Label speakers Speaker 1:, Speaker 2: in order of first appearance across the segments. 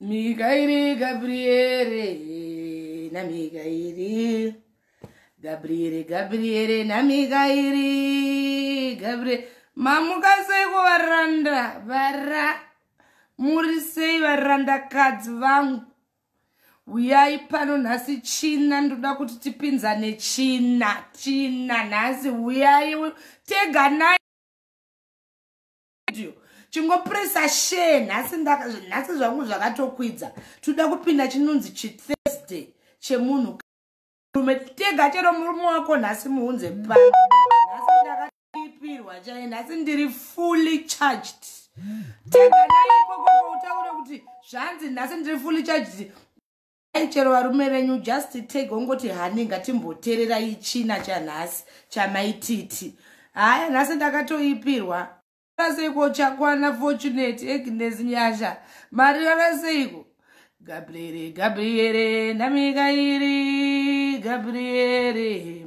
Speaker 1: Mikairi Gabriere na Mikairi Gabriere Gabriere na Mikairi Gabriere mamuka sei kuvaranda vara muri sei varandakadzi vangu uyai pano nhasi china ndoda kuti tipinzane china china nhasi uyai teganai video chingopresa share nhasi nhasi zvangu zvakatokwidza tinoda kupinda chinonzi chithursday chemunhu rume tega chero murume wako nhasi muunze pa nhasi ndakaipirwa chaye nhasi ndiri fully charged tega naikokoko utaure kuti zvanzi nhasi ndiri fully charged dai chero varume venyu just take ongoti hani ngatimboterera ichina chanhasi chamaititi haya nhasi ndakatoipirwa seiko chakwana fortunate agnes nyasha mari vava seiko gabriere gabriere ndamikairi gabriere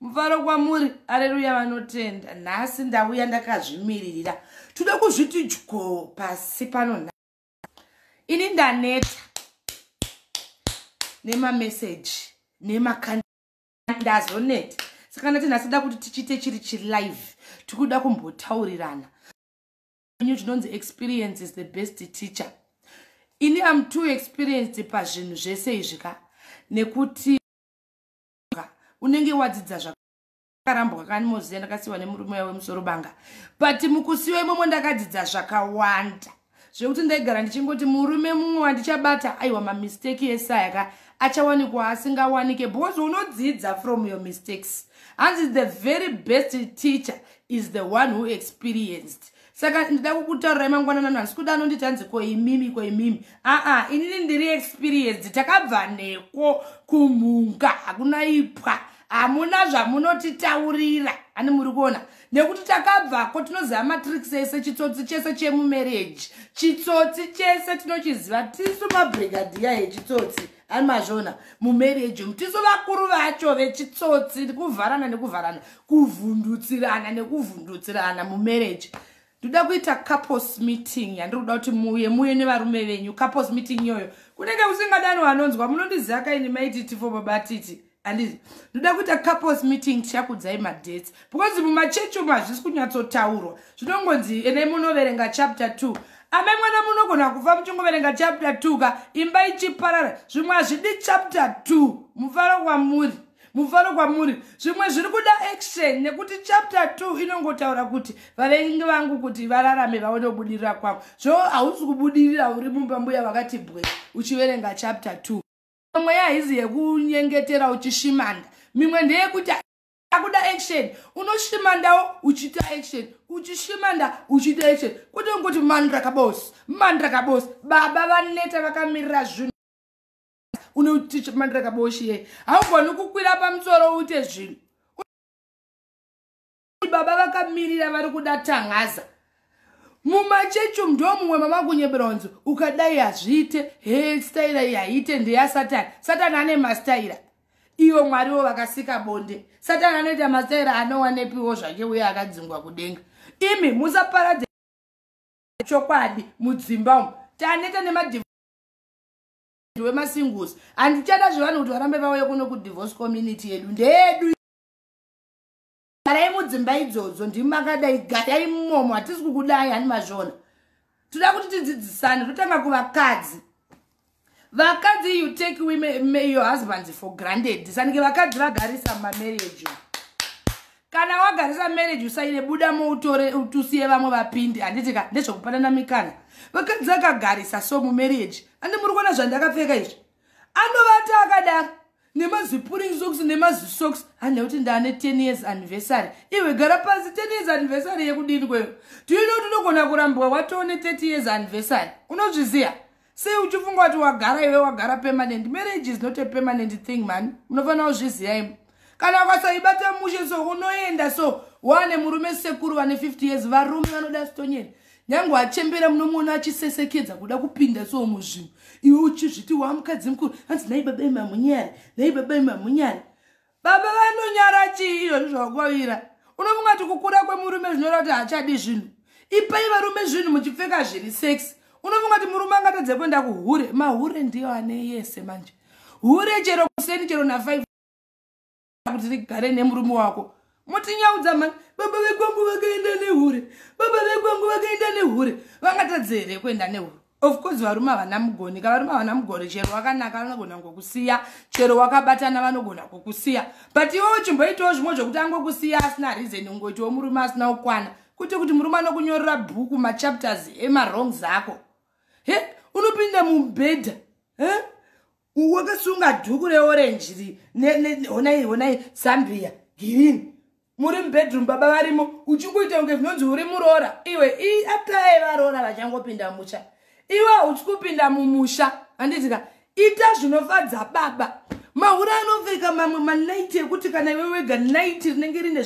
Speaker 1: mufaro kwamuri areruya vanotenda nhasi ndauya ndakazvimiririra tode kuzviti dyo pasi pano nha ini ndaneta nemameseji nemakandazoneta saka ndati nhasi da kuti tichiite chiri chilive tikuda kumbotaurirana nyu tinonzi experience is the best teacher ini am too experienced pazvinhu zvese izvi ka nekuti kunonoka unenge wadzidza zvakarambwa kani moziya ndakasiwa nemurume uya wemusoro banga but mukusiwa imomo ndakadzidza zvakawanda zvekuti ndaigara ndichingoti murume mumwe wandichabata aiwa mamisteki esaya ka achawanikwa asingawanike because unodzidza from your mistakes hanzi the very best teacher is the one who experienced saka ndida kukutaurirai mangwanana nhasi kuda anonditi hanzi ko imimi ko imimi aa inini ndiri experienced takabva neko kumhunga hakuna ipwa hamuna zvamunotitaurira ani muri kuona nekuti takabvako tinoziva matricks ese chitsotsi chese chemumarriage chitsotsi chese tinochiziva tisu mabrigadiya yechitsotsi ani mazvona mumarriage umu tisu vakuru vacho vechitsotsi kuvharana nekuvharana kuvhundutsirana nekuvhundutsirana mumarriage ndoda kuita couples meeting yandiri kuda kuti muuye muuye nevarume venyu couples meeting iyoyo kunenge kusingadanwa anonzwa munondiziva kaini maititi fo babatiti handizi ndoda kuita couples meeting tichakudzai madates because mumachechi umu hazvisi kunyatsotaurwa zvinongonzi enai munoverenga chapter two amai mwana munogona kufa muchingoverenga chapter two ka imba ichiparara zvimwe hazvidi chapter two mufaro kwamuri mufaro kwamuri zvimwe zviri kuda action nekuti chapter two inongotaura kuti vavengi vangu kuti vararame vaone kubudirira kwangu zvo hausi kubudirira uri mumba mbuya vakati bwe uchiverenga chapter two mimwe yaizi yekunyengetera uchishimanda mimwe ndeyekuti akuda action unoshimandawo uchita action uchishimanda uchita action kuti unguti mandra kabosi mandra kabosi baba vaneta vakamirira zvinhu unotichi mandra kabosi ye haugoni kukwira pamusoro uite zvinhu baba vakamirira vari kuda tangaza mumachechi umu ndo mumwe mamakunyebera unzi ukadai hazviite he staira iyi haiite ndeyasatani satani ane mastaira ivo mwariwo vakasika bonde satani anoita mastaira anowanepiwo zvake uye akadzingwa kudenga imi musaparadze chokwadi mudzimba umu taneta nemadiv wemasingusi handichada zvevanhu kuti varambe vauye kuno kudivorce community yedu ndeyedu garai mudzimba idzodzo ndimi makadai garai mumomo hatisi kukudai hani mazvona toda kuti tidzidzisane totanga kuvakadzi vakadzi you take women, your husbands for granted sanike vakadzi vagarisa mamarriage kana wagarisa marriage usaine buda moutore utusiye vamwe vapindi handitika ndezvekupanana mikana vakadzi akagarisa so mumarriage andi muri kuona zvandakapfeka izvi anovata akadaro nemazipuring socks nemazisocks handa kuti ndaane 10 years anniversary iwe gara pasi 10 years anniversary yekudini kweyo tiuine kuti unogona kurambwa watoone 30 years anniversary unozviziva sei uchifunga kuti wagara iwe wagara permanent marriage is not a permanent thing mani munofanira kuzviziva imo kana ukasaibata mushe so unoenda so waane murume sekuru vane 50 years varume vanoda stonyeni nyange achembera munomuona achisesekedza kuda kupinda so muzvinhu iwe uchizviti wamukadzi mukuru hanzi nai baba imamunyari nai baba imamunyari baba vanonyara chii izvozvi zvakwavira unofunga ti kukura kwemurume zvinoreva kuti haachadi zvinhu ipai varume zvinhu muchipfeka zviri sex unofunga ti murume angatadze kuenda kuhure mahure ndiyo ane yese manje hure chero kuseni chero na5 kuti rigare nemurume wako motinyaudza mani baba vekwangu vakaenda nehure baba vekwangu vakaenda nehure vangatadze here kuenda nehure of course varume havana mugoni ka varume havana mugoni chero wakanaka vanogona ngokusiya chero wakabatana vanogona kukusiya but iwewo chimboitawo zvimwe zvekuti angokusiya asina reason ungoitiwo murume asina kukwana kuti kuti murume anokunyorera bhuku machapters emarong zako he unopinda mubhedha he wakasunga dhuku reorange ri honai honai zambia girini muri mubedroom baba varimo uchingoita kunge zvinonzi uri muroora iwe i atai varoora vachangopinda musha iwe hauchi kupinda mumusha handitika ita zvinofadza baba mahura anopfeka mamwe manaiti ekuti kana iwe wega naiti rinenge rine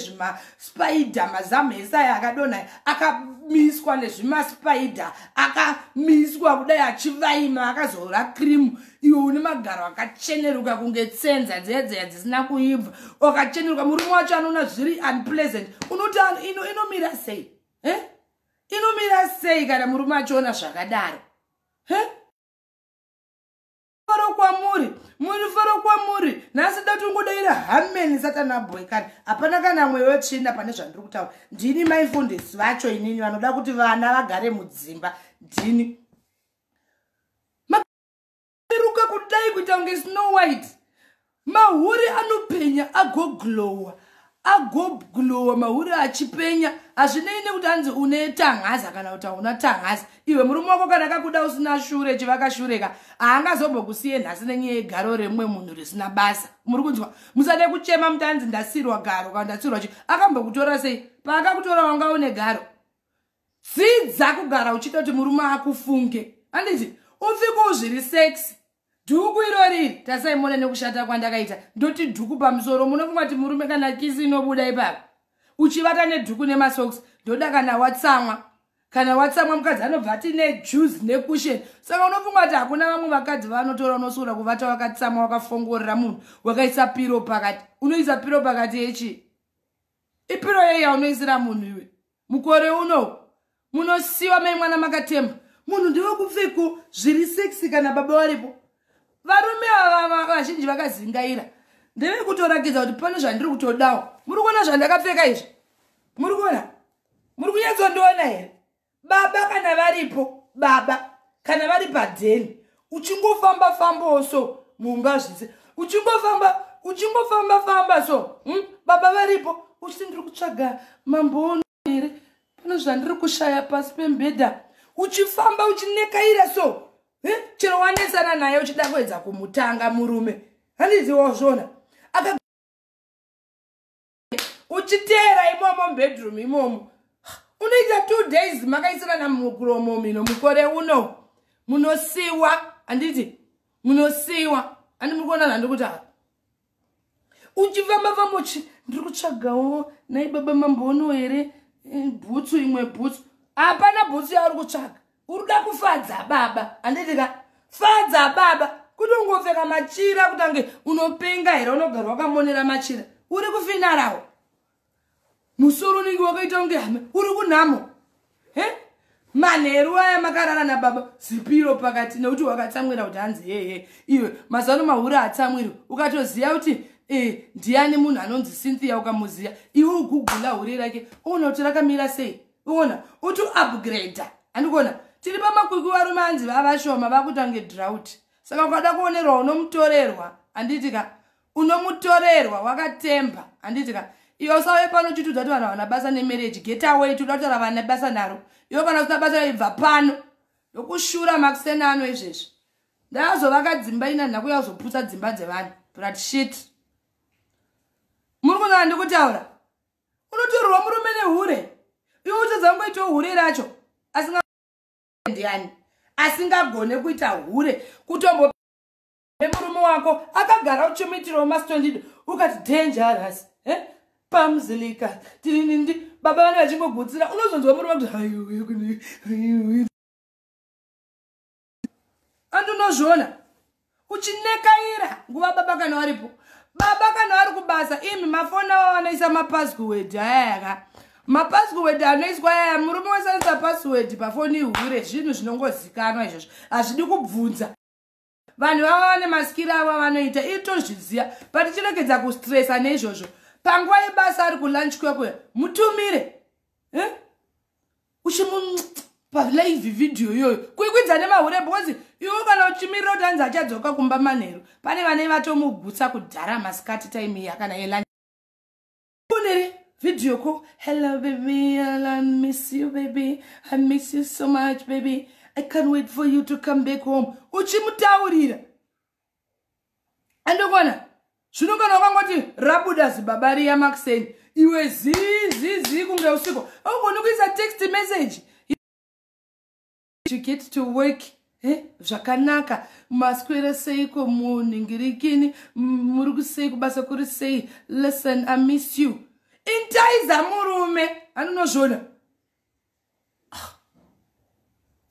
Speaker 1: spider mazamu ese aya akadonha akamiswa nezvimaspider akamiswa kudai achivaima akazora krimu iwe une magaro akacheneruka kunge tsenza dzedzeya dzisina kuibva akacheneruka murume wacho anoona zviri unpleasant unoti ino inomira sei eh? inomira sei kana murume achiona zvakadaro eh? faro kwamuri muri faro kwamuri nhasi da tongodaira hameni satana boy kani hapana kana mweya wetsvina pane zvandiri kutaura ndini maifundisi vacho inini vanoda kuti vana vagare mudzimba ndini maruka kudai kuita kunge snow white Mahure anopenya agoglowa agoglowa mahure achipenya hazvinei nekuti anzi une tanhaza kana kuti hauna tanhaza iwe murume wako kana akakuda usina shure chivaka shureka haangazombokusiye nhasi nenyaya yegaro remumwe munhu risina basa muri kunzwa musade kuchema muti anzi ndasirwa garo kana ndasirwa chi akambokutora sei paakakutora wanga une garo dzidza kugara uchita kuti murume akufunge handiti upfiko uzviri sexi dhuku irori tasai mone nekushata kwandakaita ndoti dhuku pamusoro munofunga kuti murume kana kisi inobuda ipapo uchivata nedhuku nemasocks ndoda kana watsamwa kana watsamwa mukadzi anobva ati nejuice necushion saka unofunga kuti hakuna vamwe vakadzi vanotora unosuura kuvata wakatsamwa wakafongorera munhu wakaisa piro pakati unoisa piro pakati yechi ipiro yei yaunoisira munhu iwe mukore uno munosiwa mai mwana makatemba munhu ndiwe kupfeko zviri sexy kana baba varipo varume ava vazhinji vakazingaira ndeve kutorakidza kuti pane zvandiri kutodawo muri kuona zvandakapfeka izvi muri kuona muri kunyatsondiona here baba kana varipo baba kana vari padheni uchingofamba fambawo so mumba zvise uchingofamba uchingofamba famba so hmm? baba varipo uchiti ndiri kutsvaga mambono here pane zvandiri kushaya pasi pembhedha uchifamba uchinekaira so eh? chero wanetsana naye uchida kuedza kumutanga murume handiziwazvona uchiteera imomo mubedroom imomo unoita two days makaisirana mukuromo mino mukore uno munosiwa handiti munosiwa handi muri kuona nandi kuti apa uchifamba famba uchi ndiri kutsvagawo nai baba mambono here eh, bhutsu imwe bhutsu hapana bhutsu yauri kutsvaga urikuda kufadza baba anditika fadza baba kuti ungopfeka machira kutange unopenga here unogara wakamonera machira uri kufinarawo musoro unenge wakaita kunge hame uri kunhamo he manheru aya makarara nababa zipiro pakati nekuti wakatsamwira kuti hanzi hehe iwe mazano mahure hatsamwiri ukatoziva kuti e, ndiani munhu anonzi cynthia ukamuziva iwe ugugula hure rake oona kuti rakamira sei uona uti upgrade andikuona tiri pamakwikwi varume anzi vavashoma vakutange drought saka ukada kuonerwa unomutorerwa anditi ka unomutorerwa wakatemba anditi ka iyo usauye pano chitudza kuti vanhu havana basa nemarriage get away tikuda kutaura vana basa naro iyo kana usina basa ibva pano ndokushura makusena ano izvezvi ndazovaka dzimba ina ndakuya kuzoputsa dzimba dzevanhu brat shit muri kunzana ndikutaura unotorerwa murume nehure iwe uchadza kungoitawo hure racho asingandiani asingagone kuita hure kutombo nemurume wako akagara uchimuitirawo mastondido ukati dangerous eh? pamuzilika tirinindi baba vane vachingogutsira unozonzwa murume kuti andinozviona uchinekaira nguva baba kana varipo baba kana vari kubasa imi mafoni avo vanoisa mapaswed ayayaka mapaswed anoiswa ayaya murume wese anoisa paswed pafoni ihure zvinhu zvinongozikanwa izvozvo hazvidi kubvunza vanhu vava vane masikiri avo avanoita itozviziva patichiregedza kustresa neizvozvo panguva yebasa ari kulunch kwekuya mutumire eh? uchimupa live video iyoyo kuikwidza nemahure because iwo kana uchimirira kuti anzi achadzoka kumba manheru pane vanei vatomugutsa kudhara masikati time iya kana yela unere video ko hello baby i miss you baby i miss you so much baby i can't wait for you to come back home uchimutaurira andokona zvino kana wakangoti rabuda zibaba riya makuseni iwe zizizi kunge usiko augoni kuisa text message get to work eh, zvakanaka maswera seiko munhingirikini muri kusei kubasa kuri sei listen i miss you intaiza murume anonozvona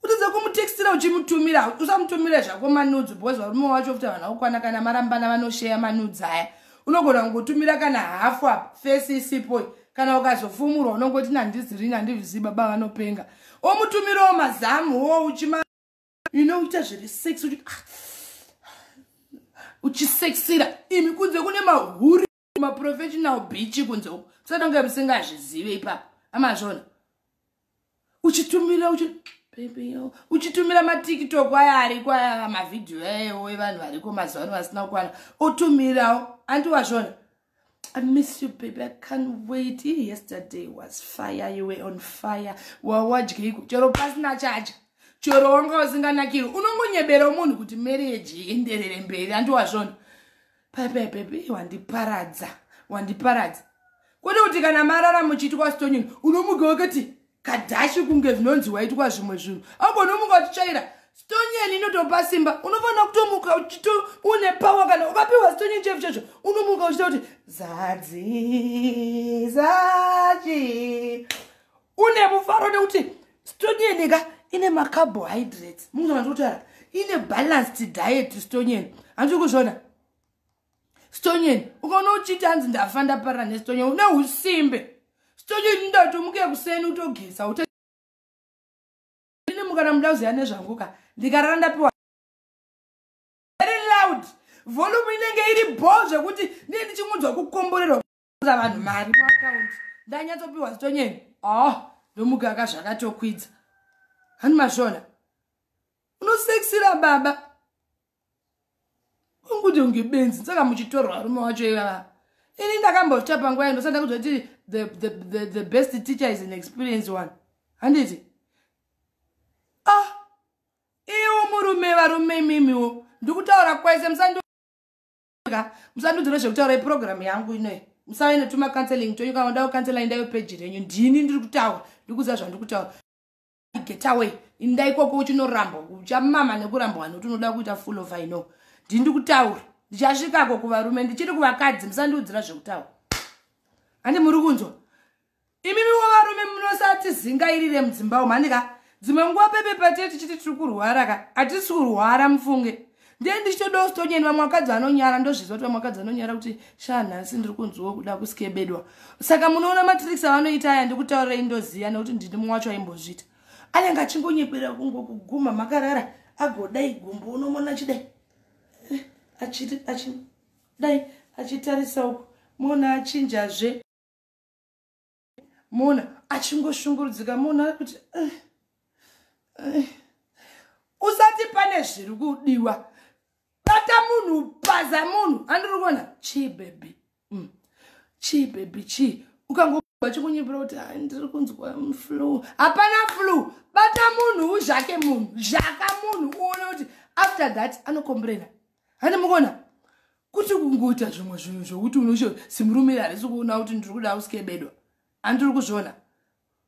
Speaker 1: utadza kumutextira uchimutumira usamutumire zvako manudzi because varume wacho futi havana kukwana kana marambana vanosheya manudzi aya unogona kungotumira kana hafu apa fesi isipo kana ukazofumurwa unongoti nandizirini andivizii baba vanopenga omutumirawo mazamu wo uchima inoita zviri sex uchi ah, uchisexira imi kunze kune mahuri maprofessional bichi kunze uku satonge musingazvizive ipapo amazvona uchitumira uchitumira matiktok aya ariko aya mavhidhiyo ayaewo evanhu variko mazuva ano vasina kukwana otumirawo andi wazvona I miss you, baby. I can't wait. Yesterday was fire. You were on fire. Wawadye iku. Chero pasina charge. Chero wanga usinganakiri. Unongonyebera munhu kuti marriage ienderere mberi. Andiwazvona. pepepepe wandiparadza wandiparadza kwete kuti kana marara muchiitwa stonyini unomuka wakati kadhashi kunge zvinonzi waitwa zvimwe zvinhu abo unomuka uchitsvaira stonyeni inotopa simba unofanira kutomuka uchito une pawa kana ukapiwa stonyeni chefu checho unomuka uchita kuti zadzizachi une mufaro nekuti stonyeni ka ine macarbohydrates munoanotara ine balanced diet stonyeni hanzi kuzviona stonyeni ukaona uchiti hanzi ndafa ndapara nestonyeni une usimbe stonyeni ndati umuke kuseni utogeza ute ini mukana muda kuziva nezvangu ka ndikarara ndapiwa very loud volume inenge iri bho zvekuti ndie ndichingunzwa kukomborerwa kuudza vanhu mari muakaunti ndanyatsopiwa zitonyeni oh ndomugaka zvakatokwidza handi mashona unosexira baba unguti unge benzi saka muchitorwa rume wacho ivava ini ndakambota panguva ino sanda kuziva kuti the, the, the, the best teacher is an experience one handiti ah iwo murume varume imimiwo ndikutaura kwaise musando ka musandiudzire zvekutaura yeprogramu yangu inoyi musave netuma counseling twenyu kana ndawo counsela indayo peji renyu ndini ndiri kutaura ndiri kuziva zvandiri kutaura get away inda ikoko uchinorambwa uchamama nekurambwa nekuti unoda kuita full of i know ndini ndiri kutaura ndichasvikako kuvarume ndichiri kuvakadzi musandiudzira zvekutaura handi muri kunzwa imimiwo varume munosati zingairire mudzimba umu handi ka dzimwe nguva pepe patie tichiti tiri kurwara ka hatisi kurwara mufunge ndee ndichitodawo sitonyeni vamwe vakadzi vanonyara ndozviziva kuti vamwe vakadzi vanonyara kuti shaa nhasi ndiri kunzwiwo kuda kuskebedwa saka munoona matricks avanoita aya ndikutaurirei ndoziva nekuti ndini mumwe wacho aimbozviita anenge achingonyeberera kungo kuguma makarara agodai gumbo unomona achidai eh, achidai achitarisa uku mona achinjazve mona achingoshungurudzika mona kuti eh, eh. usati pane zviri kudiwa bata munhu paza munhu andiri kuona chii bebi mm. chii bebi chii ukangoba chikunyipira kuti ah, ndiri kunzwa flu hapana flu bata munhu uzhake munhu zhaka munhu uone kuti after that anokombrena hani mukuona kuti kungoita zvimwe zvinhu zvokuti unocho simurume harisi kuona kuti ndiri kuda usikebedwa andiri kuzviona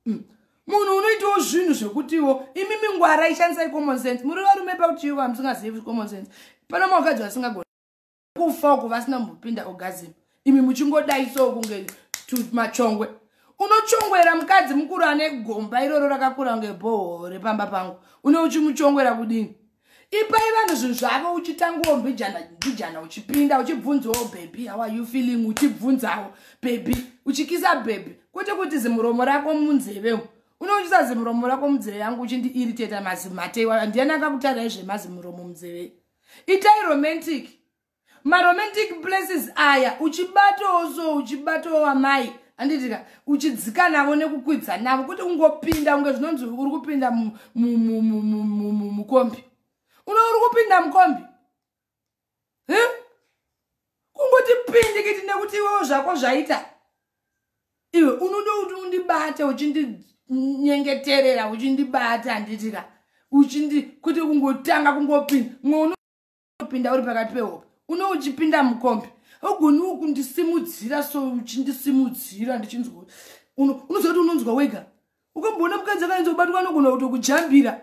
Speaker 1: mm. munhu unoitawo zvinhu zvekutiwo imi mingwara ishandisai common sense muri varume pakuti chiiko hamusingazivi common sense pano mavakadzi vasingagona kufa uko vasina mbopinda ogazim imi muchingodai so kunge machongwe unochongwera mukadzi mukuru ane gomba iroro rakakura kunge bhoho repamba pangu une uchimuchongwera kudini ipai vanhu zvinhu zvavo uchitangawo mbijana mbijana uchipinda uchibvunzawo bhebhi how are you feeling uchibvunzawo bhebhi uchikisa bhebhi kwete kuti zimuromo rako munzeve umu unochisa zimuromo rako munzeve yangu uchindiiriteta mazimate iwayo ndiani akakutarai zvemazimuromo munzeve itai romantic maromantic places aya uchibatawo so uchibatawo wamai anditika uchidzika navo nekukwidza navo kuti ungopinda unge zvinonzi uri kupinda mukombi uno uri kupinda mukombi kungoti pindikiti nekuti iwewo zvako zvaita iwe unoda kuti undibate uchindinyengeterera uchindibata anditika uchindi kuti kungotanga kungopinda unopinda uri pakati pehope une uchipinda mukombi ogoni ukundisimudzira so uchindisimudzira ndichinzwa unoziva kuti unonzwa wega ukamboona mukadzi akaenza kubatwa anogona kuto kujambira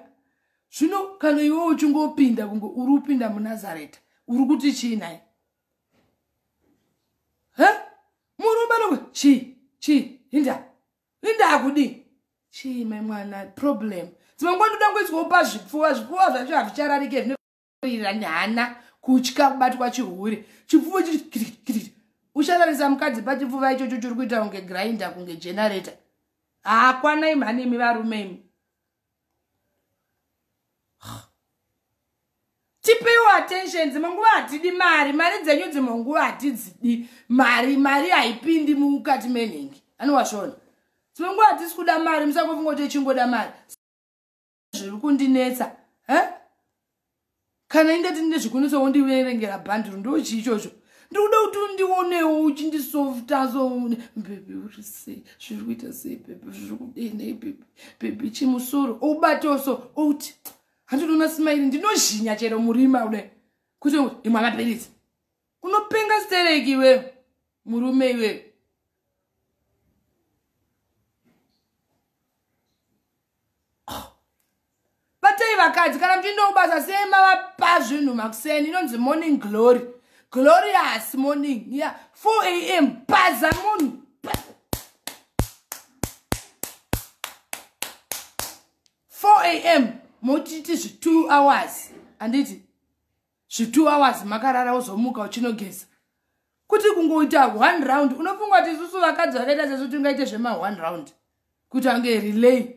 Speaker 1: zvino kana iwe uchingopinda kunge uri kupinda munazareta uri kuti chii naye he murume anogona chii chii inda inda akudii chii mai mwana problem dzimwe nguva ndoda ngoiswawo pazvipfuwa zvipfuwa zvacho hazvichararike kuirira nehana kutya kubatwa chihure chipfuva chii uchararisa mukadzi pachipfuva ichocho chiri kuita kunge grinda kunge generator haakwanai mhani imi varume imi tipeiwo attentions manguva hatidi mari mari dzenyu dzimanguva hatidzidi mari mari haipindi mukati menhingi anowasvona dzimwe nguva hatisi kuda mari musangofunga kuti ichingoda mari zviri kundinetsa huh? kana ingati ndine zvikunetsa wondiverengera bhandiro ndo chii ichocho ndikuda kuti undionewo uchindisoftaso bebi uri sei zviri kuita sei bebi zviri kudei nei bebi bebi chimusoro oubatawo so outi handinoona simairi ndinozhinya chero murima ude kuti imwe amapiritsi unopenga stereki iwe murume iwe ah. batei vakadzi kana muchiinda kubasa sei mavapa zvinhu makuseni inonzi morning glory glorious morning ya yeah. 4 a m baza munhu am motiti zvi2 hours handiti zvitu hours makarara wozomuka uchinogeza kuti kungoita one round unofunga kuti isusu vakadzi vakaita sesu tingaite zvema one round kuti ange relay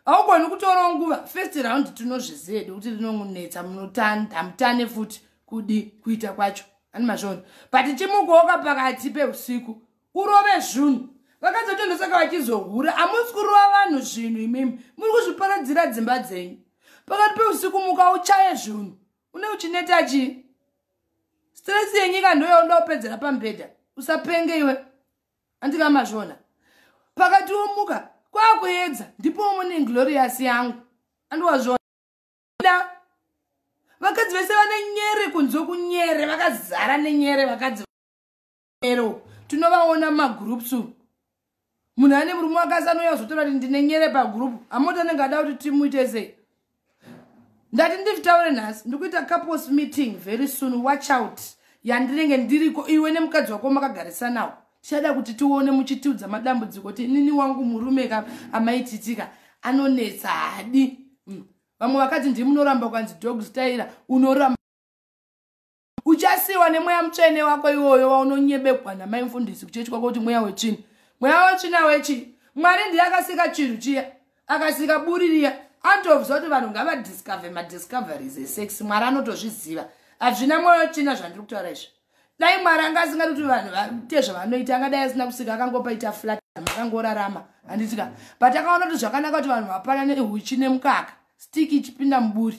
Speaker 1: haugoni kutorawo nguva first round tinozviziva hedu kuti rinongunetsa munotandamutane futi kudi kuita kwacho ani mazvona but chimukowoka pakati peusiku urove zvunhu vakadzi vacho ndosaka vachizohura hamusi kurova vanhu zvinhu imimi muri kuzviparadzira dzimba dzenyu pakati peusiku muka uchaye zvunhu une uchineta chii stress yenyika ndoyauda kupedzera pamubhedha usapenge iwe andikamazvona pakati womuka kwakuedza ndipo umone glorious yangu andiwazvona vakadzi vese vane nyere kunze kunyere vakazara nenyere vakadzi ero tinovaona mumagroups umu munhu ane murume wakasi anouya kuzotaura kuti ndine nyere pagroup amoti anenge ada kuti timuite sei ndati ndivitaure nhasi ndikuita couples meeting very soon watch out yandinenge ndiriko iwe nemukadzi wako makagarisanawo tichada kuti tione muchitiudza madambudziko kuti inini wangu murume ka amaititika anonetsa hadi hmm. vamwe vakati ndimunoramba kwanzi dogstaira unoramba uchasiyiwa nemweya mutsvene wako iwoyo waunonyebegwa namai mfundisi kuchechi kwako kuti mweya wetsvina mweya wetsvina wechii mwari ndiye akasika chinhu chiya akasika buri riya anotobvisa kuti vanhu ngavadiscover madiscoveries esex mwari anotozviziva hazvina mwoyo china zvandiri kutaura izvi dai mwari anga asingati kuti vanhu vaite zvavanoita angadai asina kusika akangopaita flat akangorarama handitika but akaona kuti zvakanaka kuti vanhu vapanane huchi nemukaka stick ichipinda muburi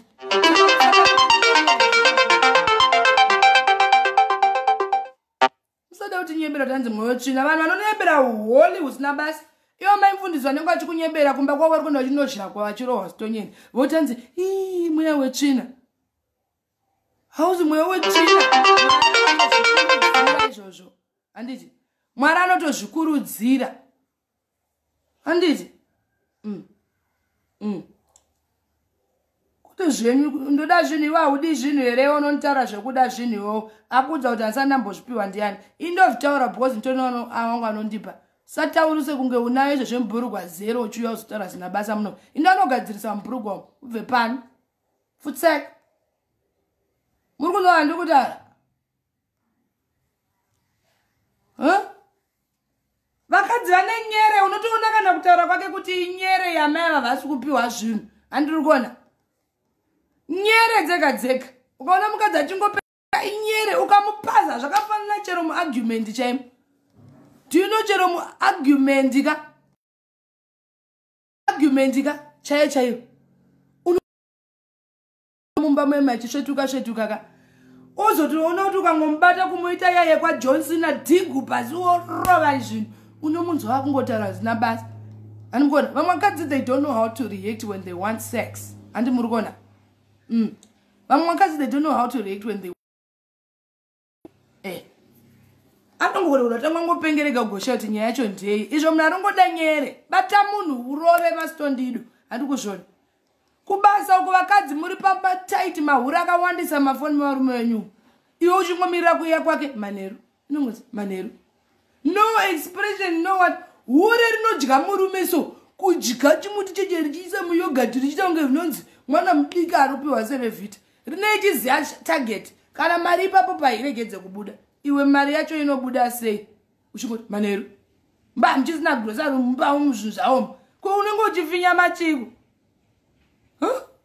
Speaker 1: musada kuti nyebera tanzi mwoyo tsvina vanhu vanonyebera holi husina basa ivo maimfundisi vanenge vachikunyebera kumba kwavo vari kuenda vachinozhakwa vachirohwa zitonyeni votanzi ii mweya wetsvina hauzi mweya wetsvina izvozvo handiti mwari anotozvikurudzira handiti mm. mm. kuti zvinhu ndoda zvinhu iwe haudi zvinhu here unonitaura zvekuda zvinhu iwewo akuudza kuti handisati ndambozvipiwa ndiyani indozvitaura because nditonono awangu anondipa sataurise kunge unayo izvo zvemubhurugwa zero uchiuya uzotaura zina basa muno inde anogadzirisa mubhurugwa ubve pano futsek muri kunova ndikutaura vakadzi vane nyere unotoona kana kutaura kwake kuti inyere yamai ava vasi kupiwa zvinhu handiri kuona nyere dzega dzega ukaona mukadzi achingopera inyere ukamupaza zvakafanana chero muargument chaimo tiuno chero muargument ka argument ka chaiyo chaiyo mumba meme achisvetuka svetuka ka ozotiona kuti ukangomubata kumuita yaye kwajohnson adhigu pasi worova izvinhu unomunzwa akungotaura zina basa andimukona vamwe vakadzi they don't know how to react when they want sex andimuri kona mm. vamwe vakadzi they don't know how to react when they eh. anongorora tanga ngopengerega gosha kuti nyaya yacho ndei izvo munhu arongoda nyere bata munhu urove masitondido handi kuzvona kubasa uko vakadzi muri pamataiti mahuri akawandisa mafoni mavarume venyu iwe uchingomirira kuiya kwake manheru inongozi manheru no expression no what hure rinodya murume so kudya chimuti cheche richiisa muyogati richiita kunge rinonzi mwana mudiki aropiwa sevevhita rinei chiziva target kana mari ipapo pairegedze kubuda iwe mari yacho inobuda sei uchingoti manheru mba muchisina grosari mumba umu zvinhu zvaoma ko unenge uchifinya machiko huh?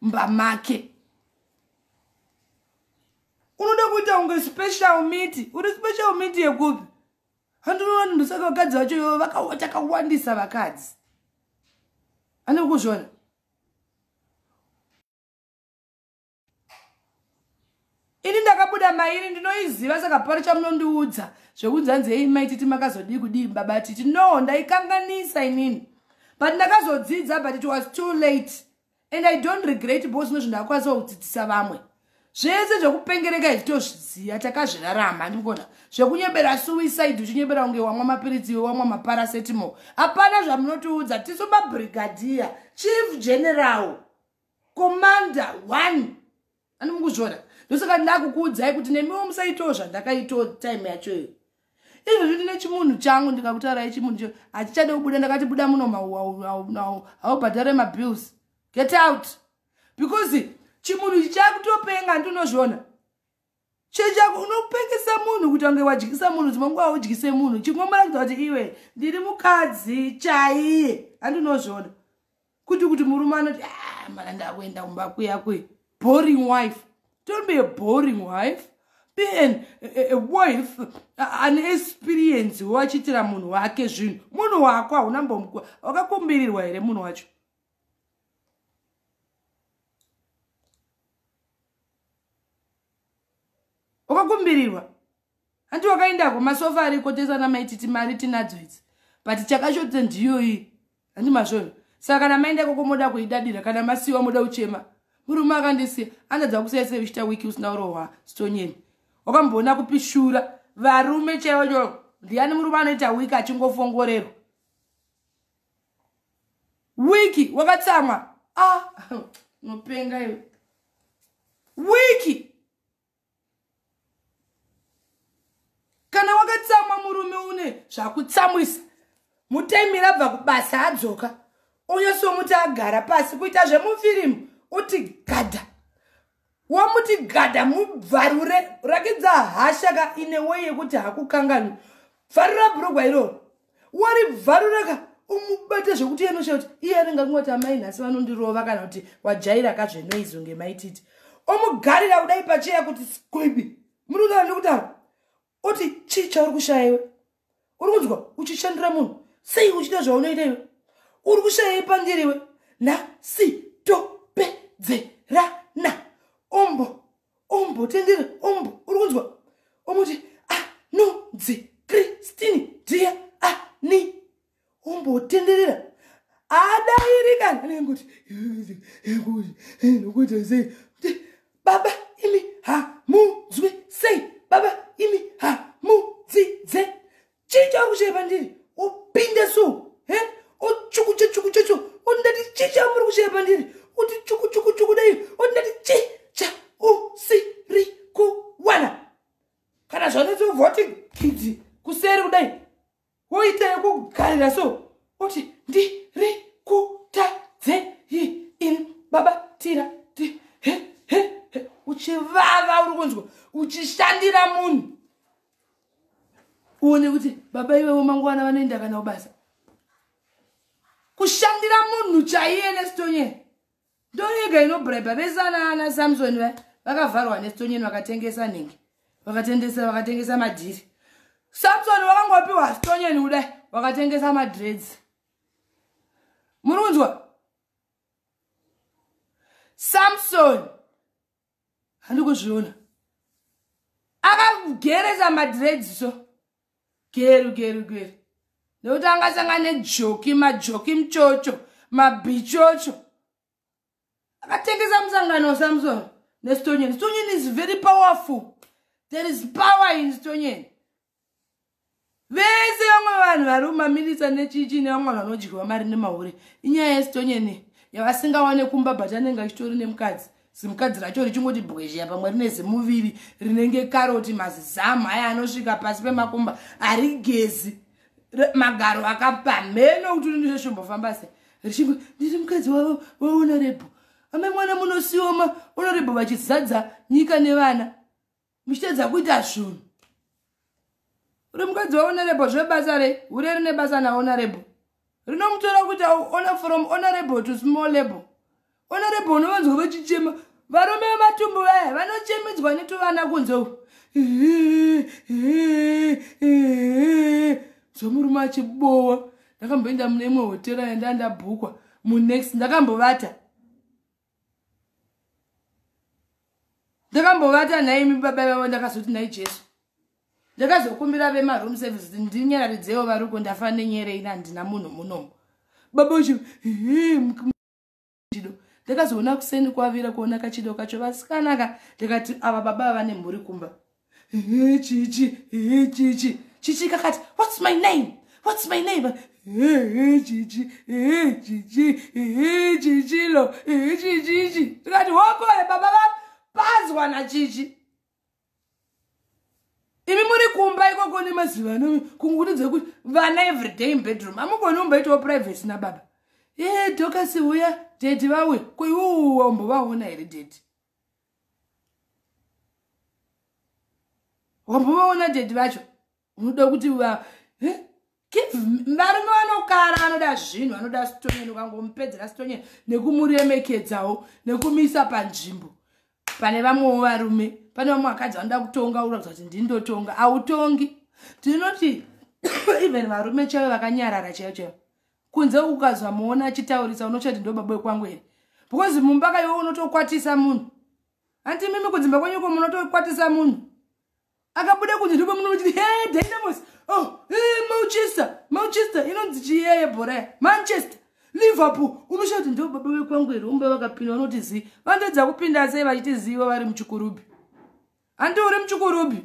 Speaker 1: mumba make unoda kuita kunge special miti uri special miti yekupi handinoona ndosaka vakadzi vacho ivo vakawandisa vakadzi anokuzvona ini ndakabuda mairi ndinoiziva saka pari chamunondiudza zvekunzi hanzi hei mai titi makazodii kudii baba titi no ndaikanganisa inini but ndakazodzidza but it was too late and i don't regret because zvino zvinhu ndakwanisa kudzidzisa vamwe zvese zvekupengereka izvi tozviziva takazvirarama ndikona zvekunyebera suicide uchinyebera kunge wamwa mapiritsi iwe wamwa maparasetimo hapana zvamunotiudza tisu mabrigadier chief general commander one ani mukuzviona ndosaka ndakukuudzai kuti nemiwo musaitawo zvandakaitawo time yachoyo izvozvi ndine chimunhu changu ndikakutarai chimunhu cho hachichade kubuda ndakati buda muno mauaunao haubhadhare mabills get out because chimunhu ichi chakutopenga ndinozviona chechako unopengesa munhu kuti wange wadyisa munhu dzimwe nguva udyise munhu chingomborakidza kuti iwe ndiri mukadzi chaiye andinozviona kuti kuti murume anoti ah, mana ndakuenda kumba kuya kwe boring wife don't be a boring wife be an a wife an experience wachiitira munhu wake zvinhu munhu wako hauna mbomukwa wakakumbirirwa here munhu wacho wakakumbirirwa hanti wakaindako masofa ariko tesa namaititi mari tinadzo idzi but chakashotisa ndiyoyi handi masvona saka kana maenda ikoko moda kuidadira kana masiwa moda uchema murume akandisiya andadza kusaisa uchita wiki usina urohwa stonyeni wakamboona kupi shura varume chaivo cho ndiani murume anoita wiki achingofongorerwa wiki wakatsamwa ah, nopenga iwe wiki kana wakatsamwa murume une zvakutsamwisa mutaimira abva kubasa adzoka onyasomuti agara pasi kuita zvemufirimu uti gadha wamuti gadha mubvarure rakidza hasha ka ine wei yekuti hakukanganwi bvarura bhurugwa iroro wari bvaruraka umubate zvekuti iye nosha kuti iye anenge akungoti amai nhasi vanondirova kana kuti wajaira kazvenoizwe ngemaititi omugarira kudai pacheya kuti squibi muri kutaura ndikutaura oti chii chauri kushaya iwe uri kunzwa uchishandira munhu sei uchita zvaunoita iwe uri kushayai pandiri iwe nhasi topedzerana ombo ombo tendera ombo uri kunzwa omuti anonzi ah, kristini dia ani ah, ombotenderera adairika anengoti nokuita sei baba imi hamunzwi sei baba imi hamudzidze chii chauri kushaya pandiri upinde so he ochukuche chukuche cho ondati chii chamuri kushaya pandiri uti chukuchukuchuku dai ondati chii cha usiri kuwana kana zvanetsi uvoti kidzi kuseri kudai woita yekugarira so oti ndiri kutadzei in baba tira ti he he he uchivava uri kunzwa uchishandira munhu uone kuti baba ivevo mangwana vanoenda kana kubasa kushandira munhu chaiye nestonyeni ndoyega inobraiba vese anaana samsoni va vakavharwa nestonyeni vakatengesa nhingi vakatendesa vakatengesa madhiri samsoni wakangopiwa stonyeni kudai wakatengesa madreds muri kunzwa samsoni handi kuzviona akageresa madreds so geru geru geru nekuti angasanga nejoki majoki mchocho mabichocho akatengesa musangano wasamson nestonyeni stonyeni is very powerful there is power in stonyeni vese vamwe vanhu vari kumaminitsa nechichi nevamwe vanhu vanodyiwa mari nemahure inyaya yesitonyeni yavasingawane kumba but anenge achitori nemukadzi zimukadzi racho richingoti bwezheya pamwe rine zimuviri rinenge karoti mazizamu aya anosvika pasi pemakumba harigezi magaro akapamheno kuti urinizvo zvimbofamba se richingo ndiri mukadzi wavo waonorebho amai mwana munosioma onorebho vachizadza nyika nevana muchitedza kuita zvunhu uri mukadzi waonerebo zvebasa re hure rine basa naonerebo rinomutora kuti aona from onerebo to small label onerebo unovanzwa vachichema varume vematumbu vaya vanochemidzwa netuvana kunze u zvomurume achibowa ndakamboenda mune imwe hotera yandandabhukwa munext ndakambovata ndakambovata nhaimi baba ivavo ndakazoti nhai jesu ndakazokumbira vemaroom service kuti ndinyararidzewo varuko ndafa nenyerei nandina munhu munomo baba vacho chido ndakazoona kuseni kwavira kuona kachido kacho vasikanaka ndikati ava baba vane mhuri kumba chichi chichi chichi kakati whats my name whats my name chichi chichi chichilo chichichi tikati hokore baba vapazwa nachichi imi muri kumba ikoko nemaziva anomi kunguti dzekuti vana everyday inbedroom amugoni umbaitawo privacy nababa e dokasi uya dedi vauya koiwouwa umbovaona here dedi wambovaona dedi vacho unoda kuti varume vanokara vanoda zvinhu vanoda sitonyeni ukangomupedzera sitonyeni nekumuremekedzawo nekumiisa panzvimbo pane vamwewo varume pane vamwe vakadzi vanoda kutonga ura kuti ndindotonga hautongi tinoti even varume chaivo vakanyarara chaivo chaivo kunze ukazomuona achitaurisa unochati ndo baba wekwangu here because mumba ka iwe unotokwatisa munhu hanti mimi kudzimba kwenyu ko munotokwatisa munhu akabuda kunze ndipo muno muchiti he dynamos oh eh, manchester manchester inonzi chiyeye bhora manchester liverpool unoshaa kuti ndo baba vekwangu here umba vakapinda vanoti zii vanotoedza kupinda sei vachiti ziva vari muchikurubi handi uri muchikurubi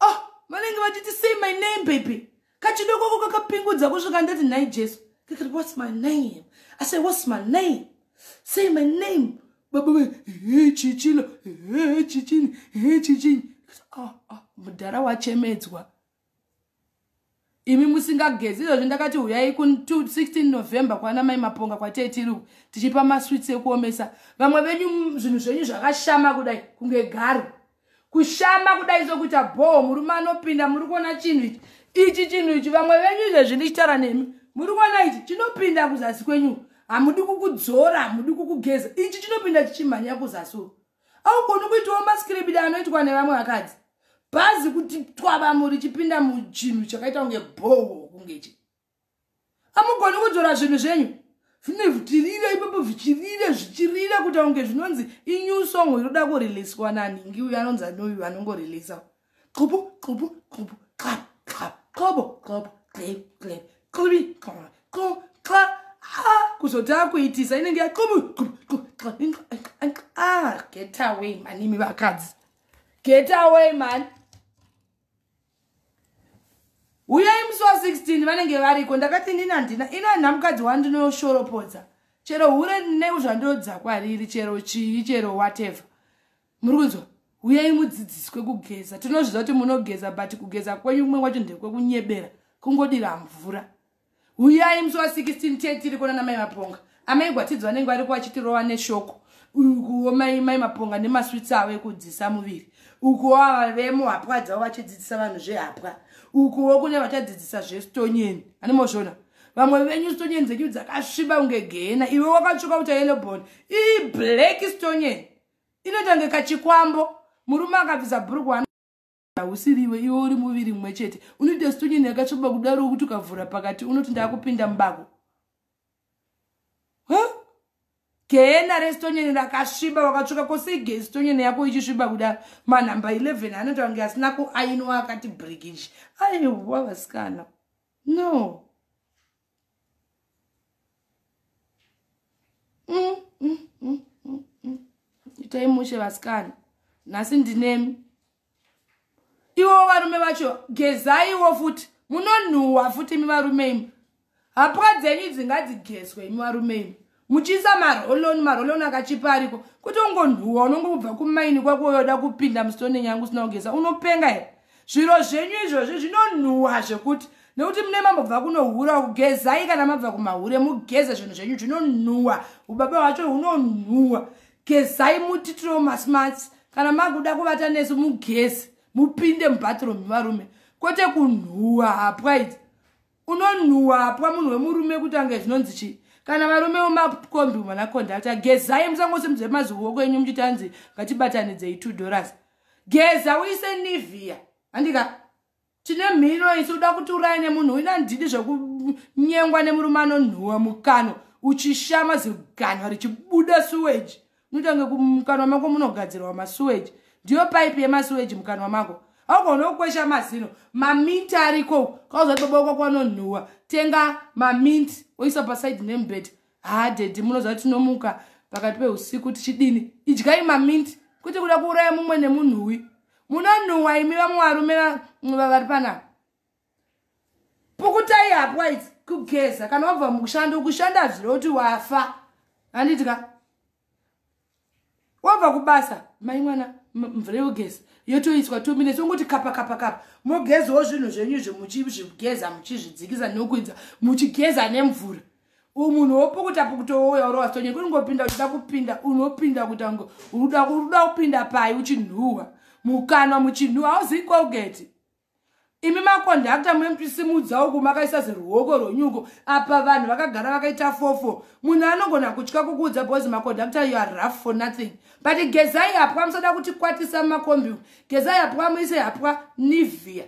Speaker 1: oh vanenge vachiti say my name baby kachidokoko kakapingudza kusvika ndati nhai jesu kakati whats my name i say whats my name say my name baba ve he chichilo he chichini he chichini ah, ah, mudhara wachemedzwa imi musingagezi izvozvi ndakati huyai ku 16 november kwana mai maponga kwatei tiri uku tichipa maswits ekuomesa vamwe venyu zvinhu zvenyu zvakashama kudai kunge garo kushama kudai sokuita bhoo murume anopinda muri kuona chinhu ichi ichi chinhu ichi vamwe venyu izvezvi ndichitaura nemi muri kuona ichi chinopinda kuzasi kwenyu hamudi kukudzora hamudi kukugeza ichi chinopinda chichimhanya kuzasi augoni kuitawo maskiribidi anoitwa nevamwe vakadzi bhazi kuti twavamu richipinda muchinhu chakaita kunge bhowo kungechi amugoni kudzora zvinhu zvenyu zvine vhutirire ipapo zvichirire zvichirire kuita kunge zvinonzi inew song inoda kureleaswa naningi uyo anonzi anoyu anongoreleasa no Qobo, qobo, qobo, clap, clap, qobo, qobo, clap, clap, qobi, qobo, qobo, clap. Ah, kuzotanga kuitisa inenge ya qobo, qobo, qobo, clap, clap, ah, get away man, imi vakadzi. Get away man. Uyai musi wa 16 vanenge variko ndakati ndini handina ino handina mukadzi wandinoyoshoropoza chero hure neuzvandodza kwariri chero chii chero whatever muri kunzwa huyai mudzidziswe kugeza tinozviziva kuti munogeza but kugeza kwenyu kumwe kwacho ndekwekunyebera kungodira mvura huyai musi wa 16 te tiri kuona namai maponga amai gwatidzi vanenge variko vachitirova neshoko ukuwo mai mai maponga nemaswitsi avo ekudzidzisa muviri ukuwo ava vemo hapwa dzavo vachidzidzisa vanhu zvehapwa ukuwo kune vachadzidzisa zvestonyeni anemozvona vamwe venyu stonyeni dzenyu dzakasviba kunge gehena iwe wakatsvuka uta yelobon iblack stonyeni inoita kunge kachikwambo murume akabvisa bhurukwa hausiriwe iwe uri muviri mumwe chete unoita situnyini yakatsvoba kudaro wokuti ukavhura pakati unoti ndakupinda mubako gehena resitonyeni rakasviba wakatsvuka kosei ge sitonyeni yako ichisviba kudaro manhamba 11 anoita kunge asina kuainwa akati brigiji aiwa vasikana no mm, mm, mm, mm, mm. itai mushe vasikana nhasi ndinemi ivo varume vacho gezaiwo futi munonhuhwa futi imi varume imi hapwa dzenyu dzingadzigeswe imi varume imi muchiisa maroloni maroloni akachipa ariko kuti ungonhuwa unongobva kumaini kwako uyoda kupinda musitone nyangu usina kugeza unopenga here zviro zvenyu izvozvi zvinonhuwa zvekuti nekuti mune mambobva kunohura kugezai kana mabva kumahure mugeze zvinhu zvenyu zvinonhuwa ubaba hwacho hunonhuwa gezai mutitiro masmats kana makuda kuvata nesu mugeze mupinde mubathroom varume kwete kunhuwa hapwaiti unonhuwa apwa munhu wemurume kuti ange zvinonzi chii kana varume vemakombi mwana kondakta gezai musangosimudze maziwoko enyu muchiti anzi ngatibatanidzei two dollars geza uise nivia handika tine mhino isi uda kuti uraya nemunhu uina handidi zvekunyengwa nemurume anonhuwa mukano uchishama ziganwa richibuda suweji Nutange kumukanwa mako munogadzirwa masuweji. Ndiyo pipe yemasuweji mukanwa mako. Haugone kukwesha mazino. Maminti ariko. Kauzati baba wako kwanonhuwa. Tenga maminti. Oisa paside nemubhedha. Haa daddy munoziva tinomuka pakati peusiku tichidini. Idyai maminti. Kuti kuda kuuraya mumwe nemunhuwi. Munonhuwa imi vamwe varume vari panapa. pukutai hapwa idzi kugeza kana wabva mukushanda ukushanda zvire kuti wafa handiti ka wabva kubasa mai mwana mvura yogeza yotoiswa two minutes ongoti kapa kapa kapa mogezawo zvinhu zvenyu izvo muchizvigeza muchizvidzikisa nokuidza muchigeza nemvura umunhu wopukuta pukuta wouya uri wasitonyeri kuri ngopinda uchida kupinda unopinda kuita ngo uruda kupinda pai uchinhuhwa mukanwa muchinhuhwa hauzivi colgate imi makondakta mwempisimudza uku makaisa ziruoko rwonyuko apa vanhu vakagara vakaita fofo munhu anogona kutya kukuudza bhozi makondakta you are rough for nothing but gezai hapwa musada kuti kwatisa mumakombi uku gezai hapwa muise hapwa nivia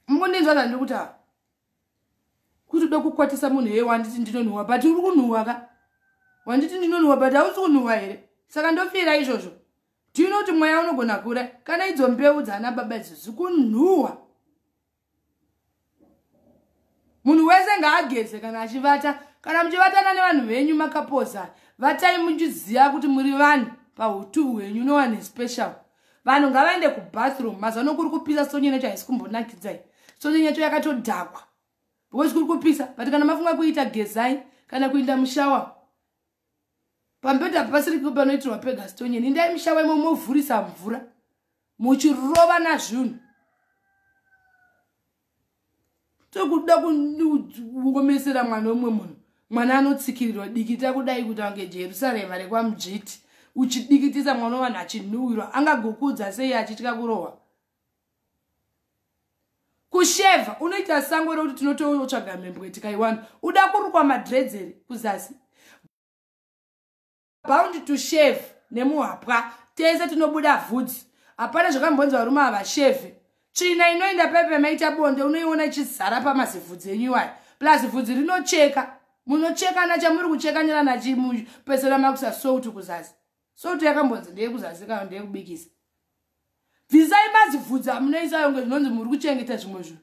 Speaker 1: mukundinzwa zvandiri kutaura kuti ude kukwatisa munhu heye wanditi ndinonhuwa but uri kunhuwa ka wanditi ndinonhuwa but hausi kunhuwa here saka ndofira izvozvo tino kuti mweya unogona kure kana idzo mbeu dzaana baba idzo zikunhuwa munhu wese ngaageze kana achivata kana muchivatana nevanhu venyu makapoza vatai muchiziva kuti muri vanhu pautu hwenyu no one special vanhu ngavaende kubathroom mazuva no kuri kupisa sonye necho haisi kumbonakidzai sonye necho yakatodhakwa because kuri kupisa but kana mafunga kuita gezai kana kuinda mushawa pambeda pasiri kupa panoitirwa pega stonye nindai mushawa imo movhurisa mvura muchirova nazvinhu tokuda kungomesera mwana wemwe munhu mwana anotsikirirwa dikita kudai kuti ange jerusarema rekwamujiti uchidikitisa mwana wevanhu achinhuwirwa angagokuudza sei achitya kurohwa kusheva unoita sango rekuti tinototsvaga mhembwe tikaiwana uda kurukwa madredzeri kuzasi bound to shave nemuhapwa tese tinobuda vhudzi hapana zvakambonzi varume havashevhe tsvina inoenda pepe maita bonde unoiona ichizara pamazivhudzi enyu iwayo plus vhudzi rinocheka munochekana chamuri kuchekanira nachimupesera makusa souti kuzasi souti yakambonzi ndeyekuzasi kana ndeyekubikisa bvisai mazivhudzi amunoisayo nge zvinonzi muri kuchengeta zvimwe zvinhu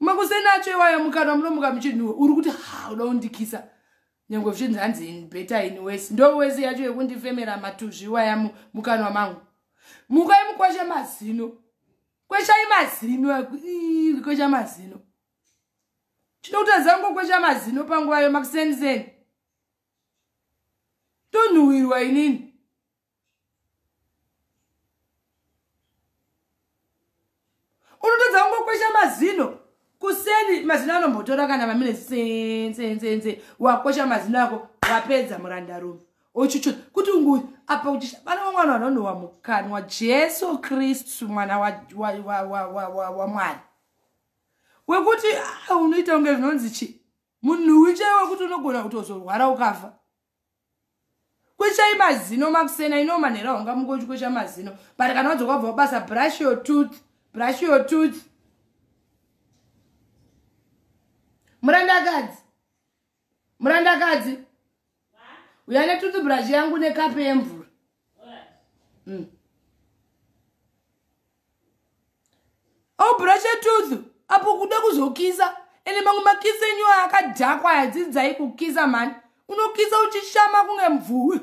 Speaker 1: makusenacho iwayo mukanwa munomuka muchinhuwe uri kuti ha uda kundikisa nyange zvichinzi hanzi in better in wes ndo wes yacho yekundifemera matuzvi iwaya mukanwa mangu mukai mukwashe mazino kweshai mazino kwesha mazino chino kuti azango kwesha mazino panguva yo makuseni seni tonhuwirwa inini unotadza kungokwesha mazino kuseni mazino anombotora kana vamine senzenzenze wakwesha mazino ako wapedza murandarume ochuchu kuti ungu apa kuti vana vamwana vanonowa mukanwa jesu kristu mwana wamwari wekuti ah, unoita kunge zvinonzi chi munhuwi chaiwe kuti unogona kutozorwara ukafa kweshai mazino makusena ino manhera wanga mungochi kwesha mazino but kana wadzoka kubva kubasa brush your tooth brush your tooth murandakadzi murandakadzi uya netooth brush yangu nekape yemvura mm. obrasha tooth apo kuda kuzokisa ende mamwe makisa enyu akadhakwa yadzidzai kukisa mhani unokisa uchishama kunge mvuwi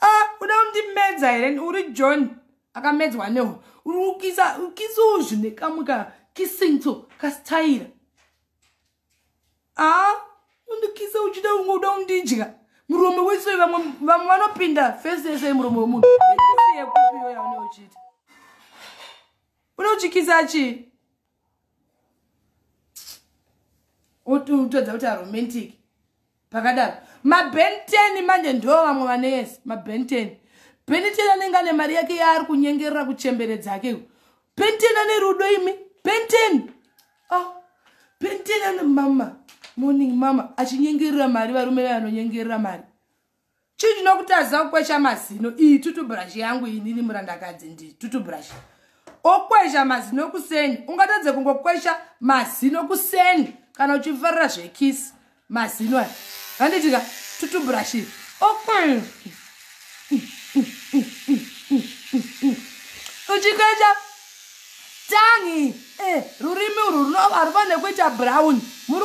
Speaker 1: ah, uda kundimedza here uri john akamedzwa neho uri kukisa ukisa uzvi nekamwe ka kisingto kastayira aa undikisa uchida unge uda undidya muromo wese vamwe vamwe vanopinda fesi yese yemuromo wemunhu ikisi yekupi iyoyo yaune uchiita une uchikisa chii utadza kuti aromantic pakadaro mabenteni manje ndo vamwe vane yes mabenteni benteni anenge ane mari yake yaari kunyengerera kuchembere dzake benteni ane rudo imi benteni oh, benteni ane mama morning mama achinyengerera mari varume vanonyengerera mari chii chinokutadzisa kukwesha mazino iyi tutubrush yangu iyi ndini murandakadzi ndi tutubrush okwesha mazino kuseni ungatadze kungokwesha mazino kuseni kana uchifarira zvekisi mazino aya handitika tutubrush iyi okwesha uchikwesha tangi eh, rurimi urwu runovarwa nekuita brown muri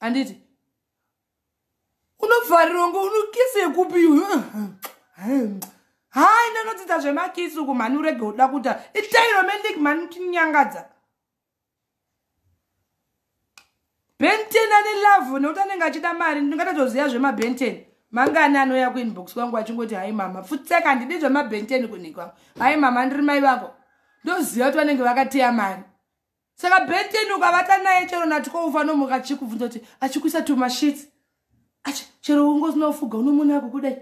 Speaker 1: handiti unobvariro ngo unokisi yekupi uyu hai ndanodzidza zvemakisi uku mhani urege uda kuta itairomendik mhani utinyangadza benten ane lavhu nekuti anenge achida mari ndingatotoziva zvemabenten mangani anouya kuinbox kwangu achingoti hai mama futseka handidi zvemabenten kunhikwangu hai mama ndiri mai vako ndoziva kuti vanenge vakateya mari saka benten ukavata naye chero natiko ufanomhuka achikubvunza kuti achikuisa tumashits achi chero ungozinofuga unomona yako kudai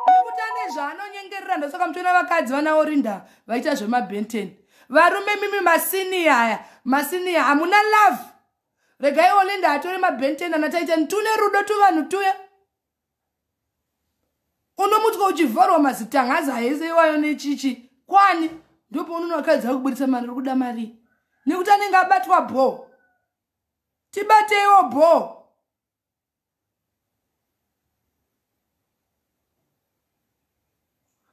Speaker 1: nekuti ane zvaanonyengerera ndosaka mutoona vakadzi vanawo rinda vaita zvemabenten varume mimi masiniya aya masiniya hamuna love regai olinda atore mabenten anataita tune rudo tuvanhu tuya unomutwa uchivharwa mazitangaza hese iwayo nechichi kwani ndopaunoona vakadzi vakuburitsa mari uri kuda marii nekuti anenge abatwa bho tibateiwo bho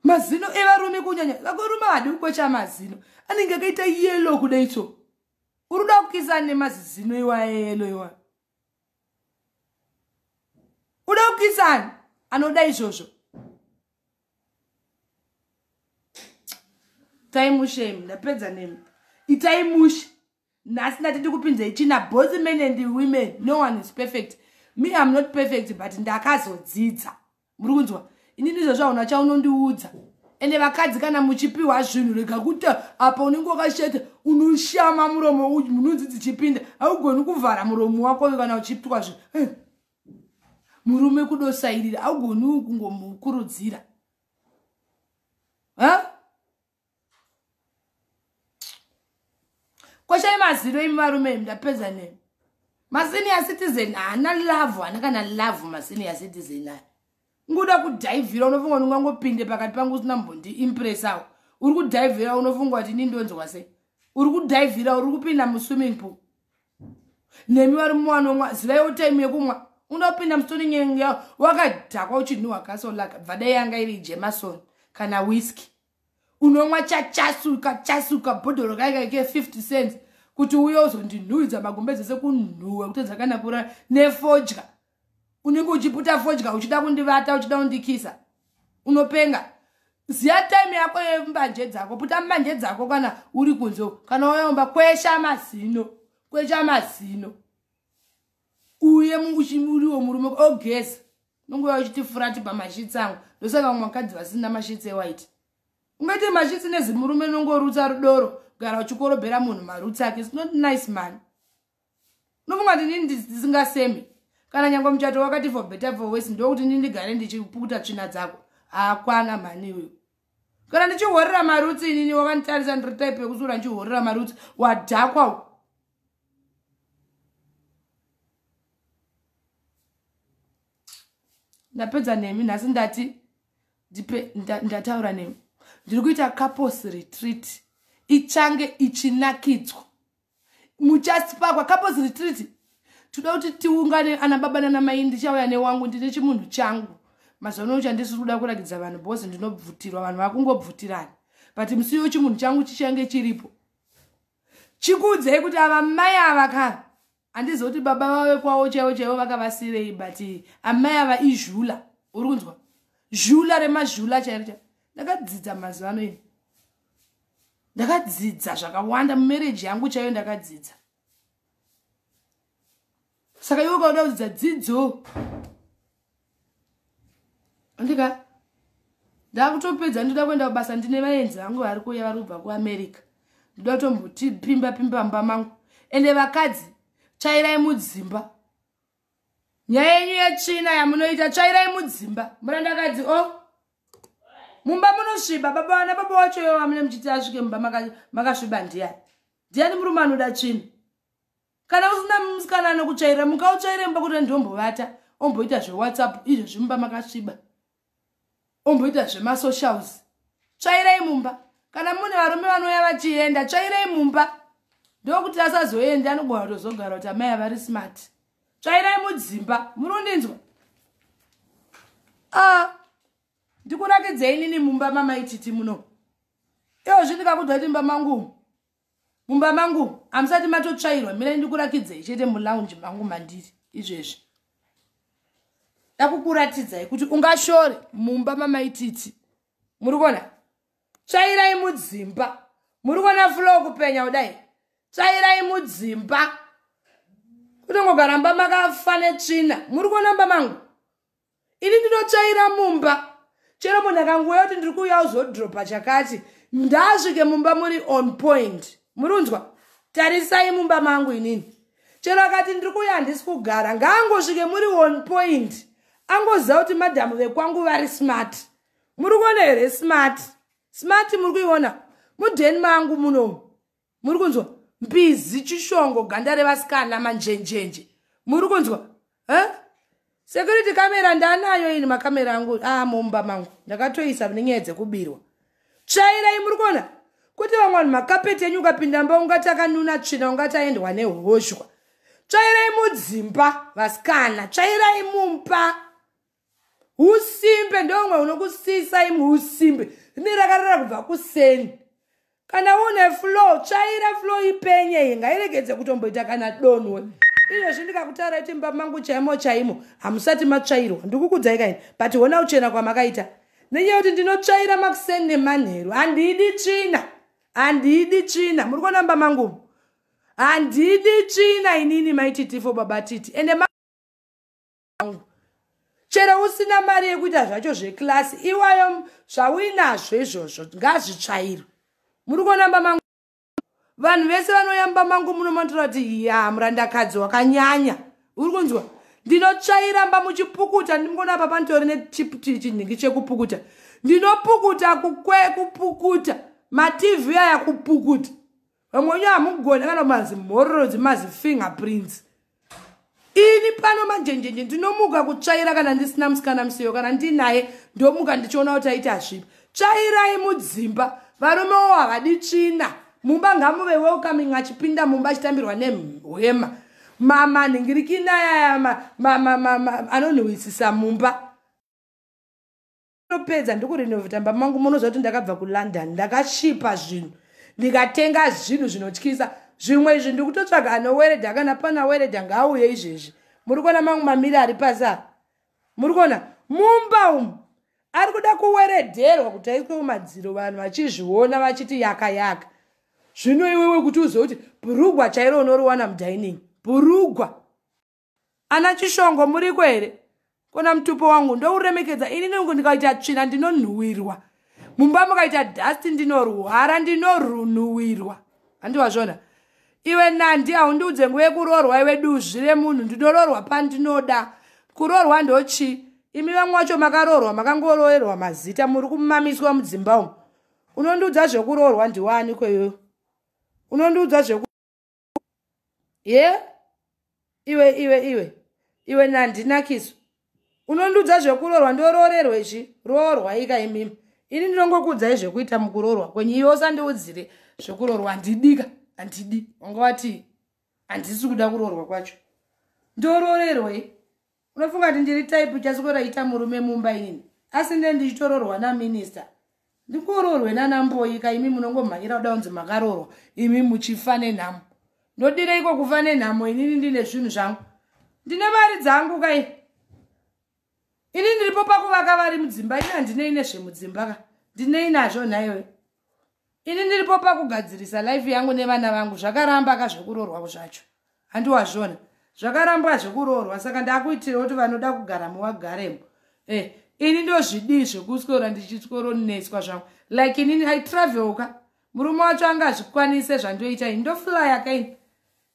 Speaker 1: mazino evarume kunyanya vakorume hadi kukwecha mazino anenge akaita yelo kudaitso uri kuda kukisana nemazizino iwayelo iwayo uda kukisani anoda izvozvo itai mushe imi ndapedza nemi itai mushe nhasi ndati ndikupinzei china both men and women no one is perfect me am not perfect but ndakazodzidza muri kunzwa ini ndizvozvaona chaunondiudza ende vakadzi kana muchipiwa zvinhu rega kuti apa unenge wakashata unoshama muromo uyu munonzi dzichipinda augoni kuvhara muromo wako uyu kana uchipwa zvinhu eh. murume kudosairira augoni kungomukurudzira koshai mazino imi varume imi ndapedza nemi masenior citizen haana love haana kana love masenior citizen aya nguda kudhaivhira unofunga kuti ungangopinde pakati pangu usina mbondi impressawo uri kudhaivhira unofunga kuti ini ndonzwa sei uri kudhaivhira uri kupinda muswimming pool nemi vari muwanonwa zivaiwo time yekumwa unopinda musitoni nyengeya wakadhakwa uchinhuhwa kasolaka bvadai yanga iri jemason kana whisky unomwa chachasuka chasuka bhodhoro kaikaike 50 cents kuti uye uzondinhuhidza magombe dzese kunhuhwa kutedza kana kurara nefodya unenge uchiputa fodya uchida kundivata uchida kundikisa unopenga ziya time yako yembanje dzako puta mbanje dzako kana uri kunze kana wayaumba kwesha mazino kwesha mazino uye uriwo murume ogeza nonguva uchiti furati pamashitsi angu ndosaka vamwe vakadzi vasina mashitsi ewhite ungaite mashitsi nezimurume nongorutsa rudoro gara uchikorobhera munhu marutsi ake its not nice mani unofunga kuti ndini ndisingasemi kana nyange muchato wakati for better for wes ndokuti ndini ndigare ndichipukuta tsvina dzako haakwana mhani uyu kana ndichihorera marutsi inini wakanditarisa ndiri type yekusura ndichihorera marutsi wadhakwa u ndapedza nemi nhasi ndati ndipe ndataura nemi ndiri kuita couples retreat ichange ichinakidzwa muchasipakwa couples retreat toda kuti tiungane ana baba nana mai ndichauya newangu ndine chimunhu changu mazuva ano chandisiri kuda kurakidza vanhu bhozi ndinobvutirwa vanhu vakungobvutirana but musi yo chimunhu changu chichange chiripo chikuudzei kuti ava mai ava ka handizi kuti baba vave kwavo chaivo chaivo vakavasirei but amai ava izhula uri kunzwa zhula remazhula chairo chaivo ndakadzidza mazuva ano ini ndakadzidza zvakawanda mumereji yangu chaiyo ndakadzidza saka iwe ukauda kudzidza dzidzo andika ndakutopedza ndoda kuenda kubasa ndine vaenzi vangu vari kuuya vari kubva kuamerica ndoda kutombotipimba pimba mba mangu ende vakadzi chairai mudzimba nyaya yenyu yetsvina yamunoita tsvairai mudzimba murandakadzi o oh. mumba munosviba baba vana baba wacho ivo vamune muchiti asvike mumba makasviba maka ndiyani ndiyani murume anoda tsvina kana usina musikana anokutsvaira mukautsvaire mumba kuti ndombovata omboita zvewhatsapp izvo zvimumba makasviba omboita zvemasocials tsvairai mumba kana mune varume vanouya vachienda tsvairai mumba ndokuti asazoenda anogona kutozogara kuti amai avari smart tsvairai mudzimba muri kundinzwa a ah, ndikunakidzei nini mumba mamaititi muno iwo zvindikakudwa kuti mumba mangu mumba mangu hamusati matotsvairwa mirai ndikurakidzai chete mulounge mangu mandiri izvezvi dakukuratidzai kuti ungashore mumba mamaititi muri kuona tsvairai mudzimba muri kuona fulo kupenya kudai tsvairai mudzimba kutongogara mba makafa netsvina muri kuona mba mangu ini ndinotsvaira mumba chero munhu akangouya kuti ndiri kuuya uzodropa chakati ndasvike mumba muri on point muri unzwa tarisai mumba mangu inini chero akati ndiri kuuya handisi kugara ngaangosvike muri on point angoziva kuti madhamu vekwangu vari smart muri kuona here smart smart muri kuiona mudheni mangu munomu muri kunzwa mbizi chishongo ganda revasikana manjenjenje muri kunzwa huh? security camera ndanayo ini makamera angu a ah, mumba mangu ndakatoisa nenyaya dzekubirwa tsvairei muri kuona kuti vamwe vanhu makapeti enyu ukapinda mba ungati akanuna tsvina ungati aendwa nehoshwa tsvairei mudzimba vasikana tsvairei mumba usimbe ndomwe unokusisa imwe usimbe rine rakarara kubva kuseni kana une flow tsvaira flow ipenye iyi ngairegedze kutomboita kana donwe izvezvi ndikakutaura iti mba mangu chaimo chaimo hamusati matsvairwa ndikukudzai kaini but hona uchena kwamakaita nenyaya yekuti ndinotsvaira makuseni nemanheru handidi tsvina handidi tsvina muri kuona mba mangu handidi tsvina inini maititifo baba titi ende vangu chero usina mari yekuita zvacho zvekilasi iwayo zvauinazvo izvozvo ngazvitsvairwe muri kuonamba mangu vanhu vese vanoyamba mangu muno manotora kuti ya murandakadzi wakanyanya uri kunzwa ndinotsvairamba muchipukuta ndimukona apa panitori nechinhingi chekupukuta ndinopukuta kukwe kupukuta mativi aya kupukuta vamwe wenyu hamugone kana mazi mhororo dzimazi finger prince ini pano manjenjenje ndinomuka kutsvaira kana ndisina musikana musiyo kana ndinaye ndomuka ndichiona kuti aiti hazvipi tsvairai mudzimba varume wo havadi tsvina mumba ngamuve welcoming achipinda mumba achitambirwa nehwema mama nhingirikinayayama anonhuwisisa mumba ndinopedza ndikurenovhita mba mangu munoziva kuti ndakabva kulondon ndakashipa zvinhu ndikatenga zvinhu zvinotyisa zvimwe izvi ndikutotsvaga anoweredha kana pana weredha ngaauye izvezvi muri kuona mangu mamiri ari pasa muri kuona mumba umu ari kuda kuweredherwa kuti aiswe kumadziro vanhu vachizviona vachiti yaka yaka zvino iwewe kuti uzive kuti bhurugwa chairo unoriwana mudining bhurugwa Ana Chishongo muriko here? Kona mutupo wangu ndouremekedza ini nungu ndikaita tsvina ndinonhuwirwa. Mumba mukaita dust ndinorwara ndinorunhuwirwa. Handi wazvona? Iwe Nandi haundiudze nguva yekuroorwa iwe duzvi remunhu ndinoroorwa pandinoda. Kuroorwa ndochi imi vamwe wacho makaroorwa makangoroerwa mazita muri kumamiswa mudzimba umu. Unondiudza zvekuroorwa ndiwani kweyo? Unondiudza zveku ye yeah? iwe iwe iwe iwe nandinakiso unondiudza zvekurorwa ndororerwe zvi roorwa ika imimi ini ndinongokuudzai zvekuita mukurorwa kwenyu iwe usandiudzire zvekurorwa handidika handidi wanga wati handisi kuda kurorwa kwacho ndororerwei unofunga kuti ndiri type chaswera ita murume mumba inini asi nde ndichitororwa naminister ndikuroorwe nanamboyi ka imi munongomhanyira kuda kunzi makaroorwa imi muchifa nenhamo ndodire iko kufa nenhamo inini ndine zvinhu zvangu ndine mari dzangu kai ini ndiripo pakuvaka vari mudzimba ini handinei nezvemudzimba ka ndinei nazvo nhaiwe ini ndiripo pakugadzirisa life yangu nevana vangu zvakaramba ka zvekuroorwa zvacho handiwazvona zvakarambwa zvekuroorwa saka ndakuitira kuti vanoda kugara muvagaremo eh, ini ndozvidii zvekuswera ndichitsoronetswa zvangu like inini i travel ka murume wacho anga azvikwanise zvandoita ini ndoflya kaini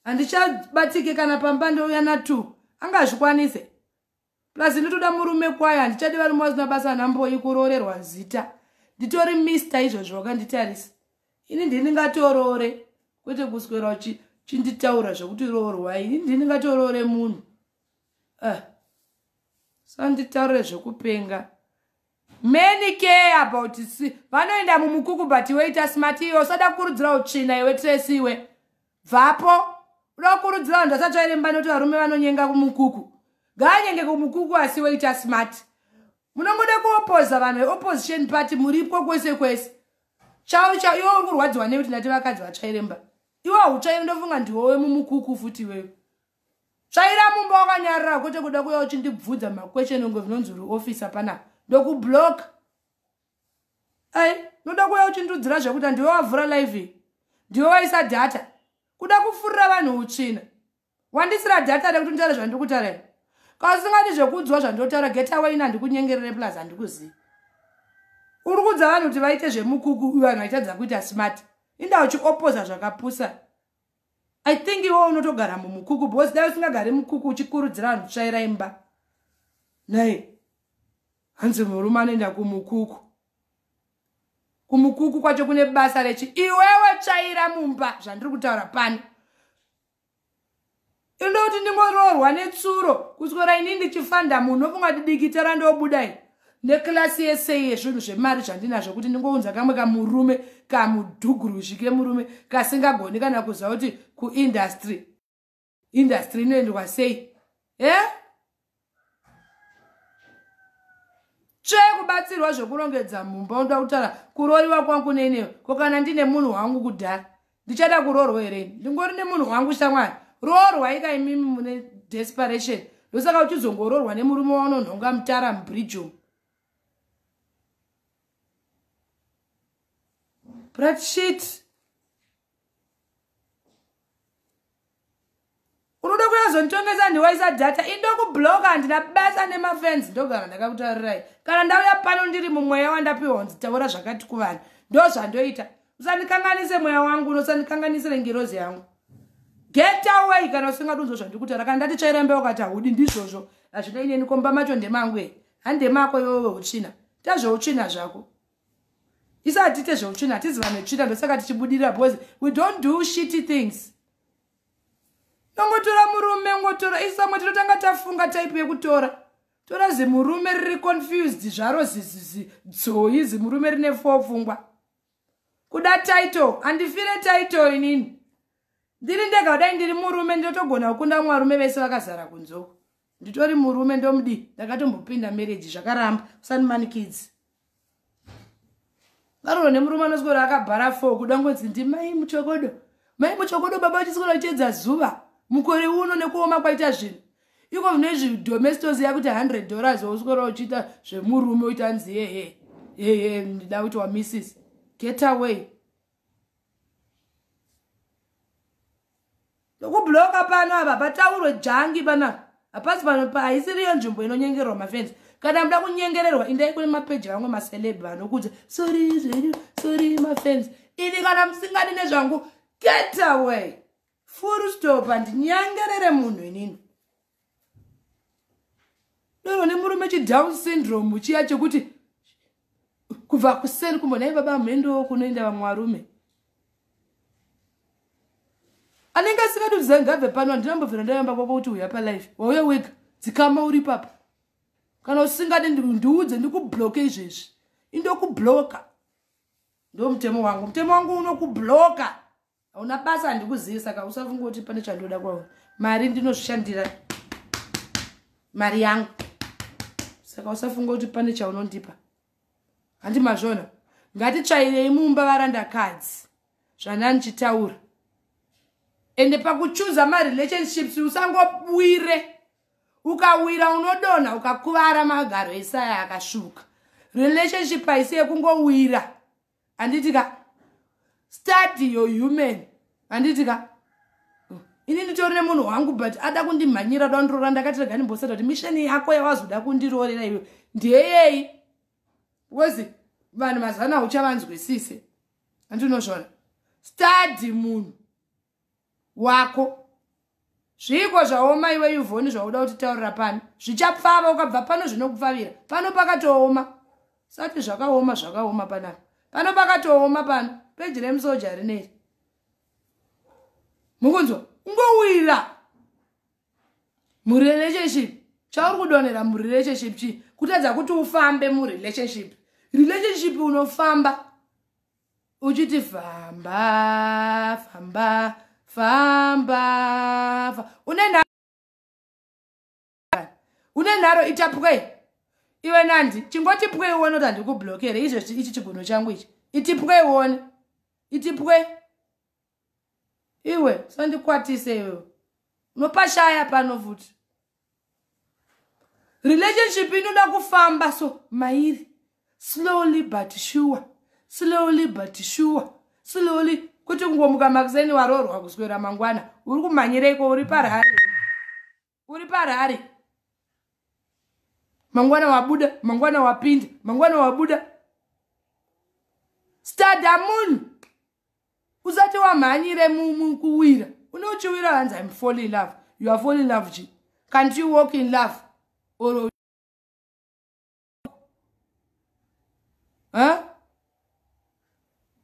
Speaker 1: handichabatike kana pamba ndouya natu anga azvikwanise plus ndotoda murume kwaye handichadi varume vasina basa anamboyi kuroorerwa zita nditori mister izvozvo wakanditarisa ini ndindingatoroore kwete kuswera uchinditaura zvekuti roorwa ini ndindingatoroore munhu uh. Eh, sanditaure zvekupenga Many care about si vanoenda mumukuku but iwe ita smart iwe usada kukurudzira utsvina iwe Tracy iwe bvapo uda kukurudzira vanhu vasatsvairemba noti varume vanonyenga kumukuku ngaanyenge kumukuku asi iwe ita smart munongoda kuopoza vanhu veopposition party muripwo kwese kwese chau chau iwe uri kurwadziwa nekuti ndati vakadzi vatsvairemba iwe hautsvaire ndofunga ndiwowe mumukuku futi iwewe tsvaira mumba wakanyarara kwete kuda kuya uchindibvudza makwesheni unge zvinonzi uri officer panapa ndokublock ai noda kuya uchindiudzira zvekuti handiwe wavhura live ndiwe waisa data kuda kufurira vanhu utsvina wandisira data rekuti nditaure zvandiri kutaura iri kausingadi zvekuudziwa zvandotaura getaway ina ndikunyengerere plus handikuzivi uri kuudza vanhu kuti vaite zvemukuku vanhu vaitadza kuita smart inda uchiopoza zvakapusa I think iwe unotogara mumukuku because dai usingagari mukuku uchikurudzira vanhu kutsvaira imba naye hanzi murume anoenda kumukuku kumukuku kwacho kune basa rechi iwewe tsvaira mumba zvandiri kutaura pano inoda kuti ndingoroorwa netsuro kuswera ini ndichifanda munhu ofunga kuti dikita randobuda i neclasi yese yezvinhu zvemari zvandinazvo kuti ndingounza kamwe kamurume kamudhuguruzhi kemurume kasingagoni kana kuziva kuti kuindastry indastry inoendwa sei e eh? chekubatsirwa zvekurongedza mumba unoda kutaura kuroyiwa kwangu nenewe ko kana ndine munhu wangu kudhara ndichada kuroorwa here ini ndingori nemunhu wangu shamwari roorwa ika imimi mune desperation ndosaka uchizongoroorwa nemurume waunonhonga mutara mubridgeo brat shit unoda kuyazonditongesa ndiwaisa data indo kubloka handina basa nemafens ndogara ndakakutaurirai kana ndauya pano ndiri mumweya wandapiwa kunzi taura zvakati kuvanhu ndo zvandoita usandikanganise mweya wangu unosandikanganisire ngirozi yangu get away kana usingadi unzwa zvandiri kutaura kana ndati tsvairembe wakati haudi ndizvozvo hazvina ineni komba macho ndemangu e handemako iwewe utsvina tazveutsvina zvako isu hatiite zveutsvina hatizi vanhu vetsvina ndosaka tichibudirira because we don't do shitty things nongotora murume ngotora isu vamwe tinotanga tafunga type yekutora tora zimurume riri confused zvaro dzoi zimurume rine fo pfungwa kuda title handifire title inini ndiri ndega kudai ndiri murume ndinotogona kukunda mwarume vese vakazara kunzoko nditori murume ndomudii ndakatombopinda marriage zvakaramba usani mani kids varoro nemurume anozikora akabhara fo kuda ngonzi ndimai muchokodo mai muchokodo baba vachizikora vachiedza zuva mukore uno nekuoma kwaita zvinhu iko zvino izvi domestos yakuti 100 dollars wausikora uchiita zvemurume uita nzi hehe hehe ndida kuti wamisis get away nokubhuroka pano apa pataurwe jangi panapa hapasi pano paisiriyo nzvimbo inonyengerwa mafenzi kana muda kunyengererwa indai kune mapeji vamwe maceleb vanokuudza sori zvenyu sori mafenzi ini kana musingadi nezvangu get away furu stop handinyengerere munhu inini doro nemurume chidown syndrome chiya chekuti kubva kuseni kumbo nai baba mhendo kunoenda vamwe varume anenge asingadi kuti zangabve pano handina mbovhera ndayamba kwako kuti uya palife wauya wega dzikama uri papa kana usingadi ndiudze ndikubloke izvezvi indokubloka ndo mutemo wangu mutemo wangu unokubloka hauna basa handikuzivi saka usafunga kuti pane chandoda kwauri mari ndinozvishandira mari yangu saka usafunga kuti pane chaunondipa handi mazvona ngatitsvairei mumba varandakadzi zvanani chitaura ende pakuchuza marelationships usangobwire ukawira unodonha ukakuvara magaro esaya akasvuka relationship haisi yekungowira handiti ka study your human handiti ka ini nditori nemunhu wangu but ada kundimhanyira da kundirora ndakati rega ndimboseta kuti misheni yako yawazoda kundiroorera iwe ndeyei because vanhu mazana uchavanzwisise andinozvona study munhu wako zviiko zvaoma iwe yuvhoni zvauda kutitaurira pano zvichapfava ukabva pano zvinokupfavira pano pakatooma sati zvakaoma zvakaoma panapa pano pakatooma pano peji remusoja rineri mukunzwa ungowira murelationship chauri kudonhera murelationship chii kutadza kuti ufambe murelationship relationship unofamba uchiti famba famba famba une nharo une nharo ita pwei iwe nandi chingoti pwei uone kuti handikublokere izvezvi ichi chigunhu changu ichi iti pwei uone iti pwei iwe sandikwatise iwe unopashaya pano futi relationship inoda kufamba so mairi slowly but sure slowly but sure slowly kuti kungomuka makuseni waroorwa kuswera mangwana uri kumhanyireiko uri parhari uri parari mangwana wabuda mangwana wapinda mangwana wabuda stada munhu usati wamhanyire kuwira unochiwira hanzi im fall in love you are fall in love ji can't you walk in love or huh?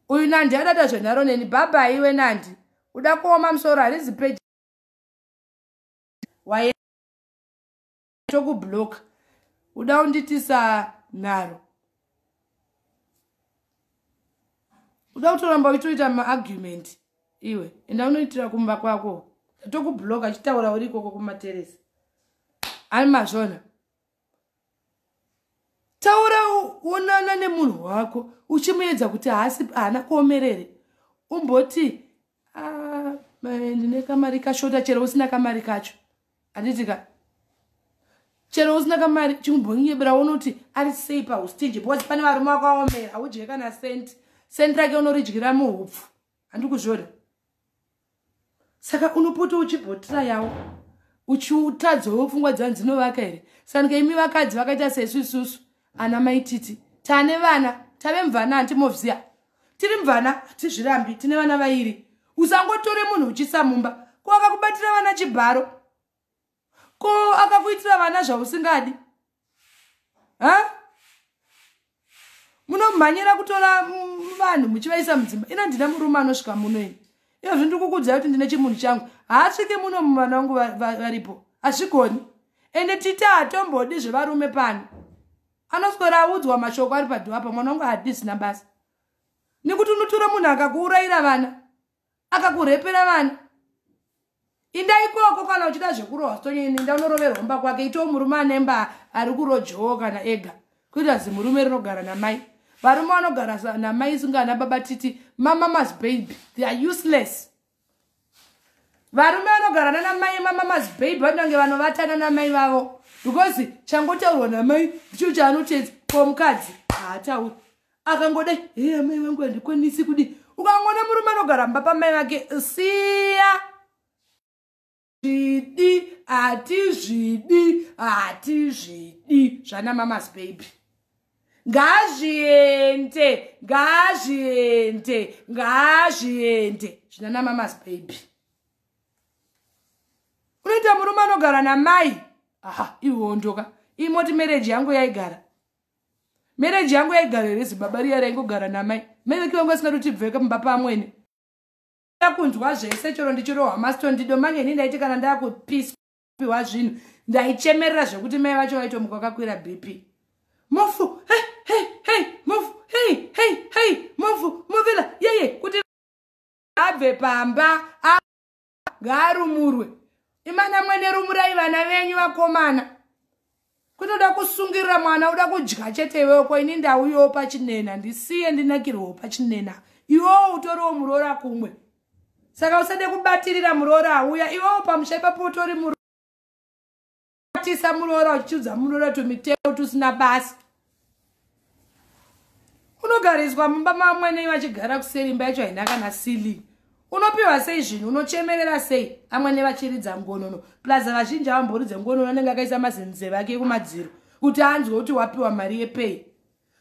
Speaker 1: uyu nandi adada zvenharo neni bhabha iwe nandi uda kuoma musoro harizi peji waye tokubloka uda unditisa nharo uda kutoramba uchitoita maargument iwe enda unoitira kumba kwako tokubloka chitaura uri ikoko kumateresi ari mazvona taura wonana nemunhu wako uchimuedza kuti haasi haana kuomerere umboti ah, ndine kamari kashota chero usina kamari kacho handiti ka chero usina kamari chimumbonyebera wonoti ari sei paustinji because pane varume wako aomera haudye kana senti senti rake unoridyira muhupfu handikuzvona saka unopota uchibhotira yawo uchiutadzowo pfungwa dzanhu dzinovaka here sanika imi vakadzi vakaita sesu isusu ana mai titi tane vana tave mvana hantimovziya tiri mvana hatizvirambi tine vana vairi usangotore munhu uchisa mumba ko akakubatira vana chibharo ko akakuitira vana zvausingadi ha munomhanyira kutora vanhu muchivaisa mudzimba ina ndina murume anosvika muno ini iyozvi ndiri kukudzai kuti ndine chimunhu changu haasvike muno muvana vangu varipo hazvigoni ende titi hatombodi zvevarume pano anoswera audzwa mashoko ari padhuwa pa mwana wangu hadisina basa nekuti unotora munhu akakuurayira vana akakurepera vani inda ikoko kana uchida zvekurohwa sitonyeni inda unoroverwa mba kwake itawo murume anemba ari kurojowo kana ega kuita zimurume rinogara namai varume vanogara namai isinga ana baba titi mamamas baby they are useless varume vanogara nana mai mamamas baby vanange vanovatana namai vavo because changotaurwa namai ndicho chaanotedzi komukadzi haatauri akangoda hee amai vangu handikwanisi kudi ukangoona murume anogara mba pamai vake siya zvidi hatizvidi hatizvidi zvana mamas baby ngazviende ngazviende ngazviende zvinana mamas baby unoita murume anogara namai aha iwondoka imoti mereji yangu yaigara mereji yangu yaigara here zibaba riya raingogara namai meveki vangu asingatoti bveka mumba pamwene ndakunzwa zvese chero ndichirohwa mastondo mange ini ndaiti kana ndakupiwa zvinhu ndaichemerera zvekuti mai vacho vaitomuka vakakwira bp mofu hey, hey, hey, mofu hey, hey, hey, mofu movela yeye kuti abve pamba ngaarumurwe imana mwene rumurai vana venyu vakomana kutoda kusungirira mwana uda kudya chete iwewo ko ini ndauyowo pachinena ndisiye ndinakirwewo pachinena iwewo utoriwo muroora kumwe saka usade kubatirira muroora auya iwewo pamusha ipapo utori muro tisa muroora uchichiudza muroora tumiteo tusina basa unogariswa mumba mamwenei vachigara kuseri imba yacho haina kana sili unopiwa sei zvinhu unochemerera sei amwene vachiridza ngonono plus vazhinji avamboridze ngonono anenge akaisa mazinze vake ekumadziro kuti anzwe kuti wapiwa mari yepei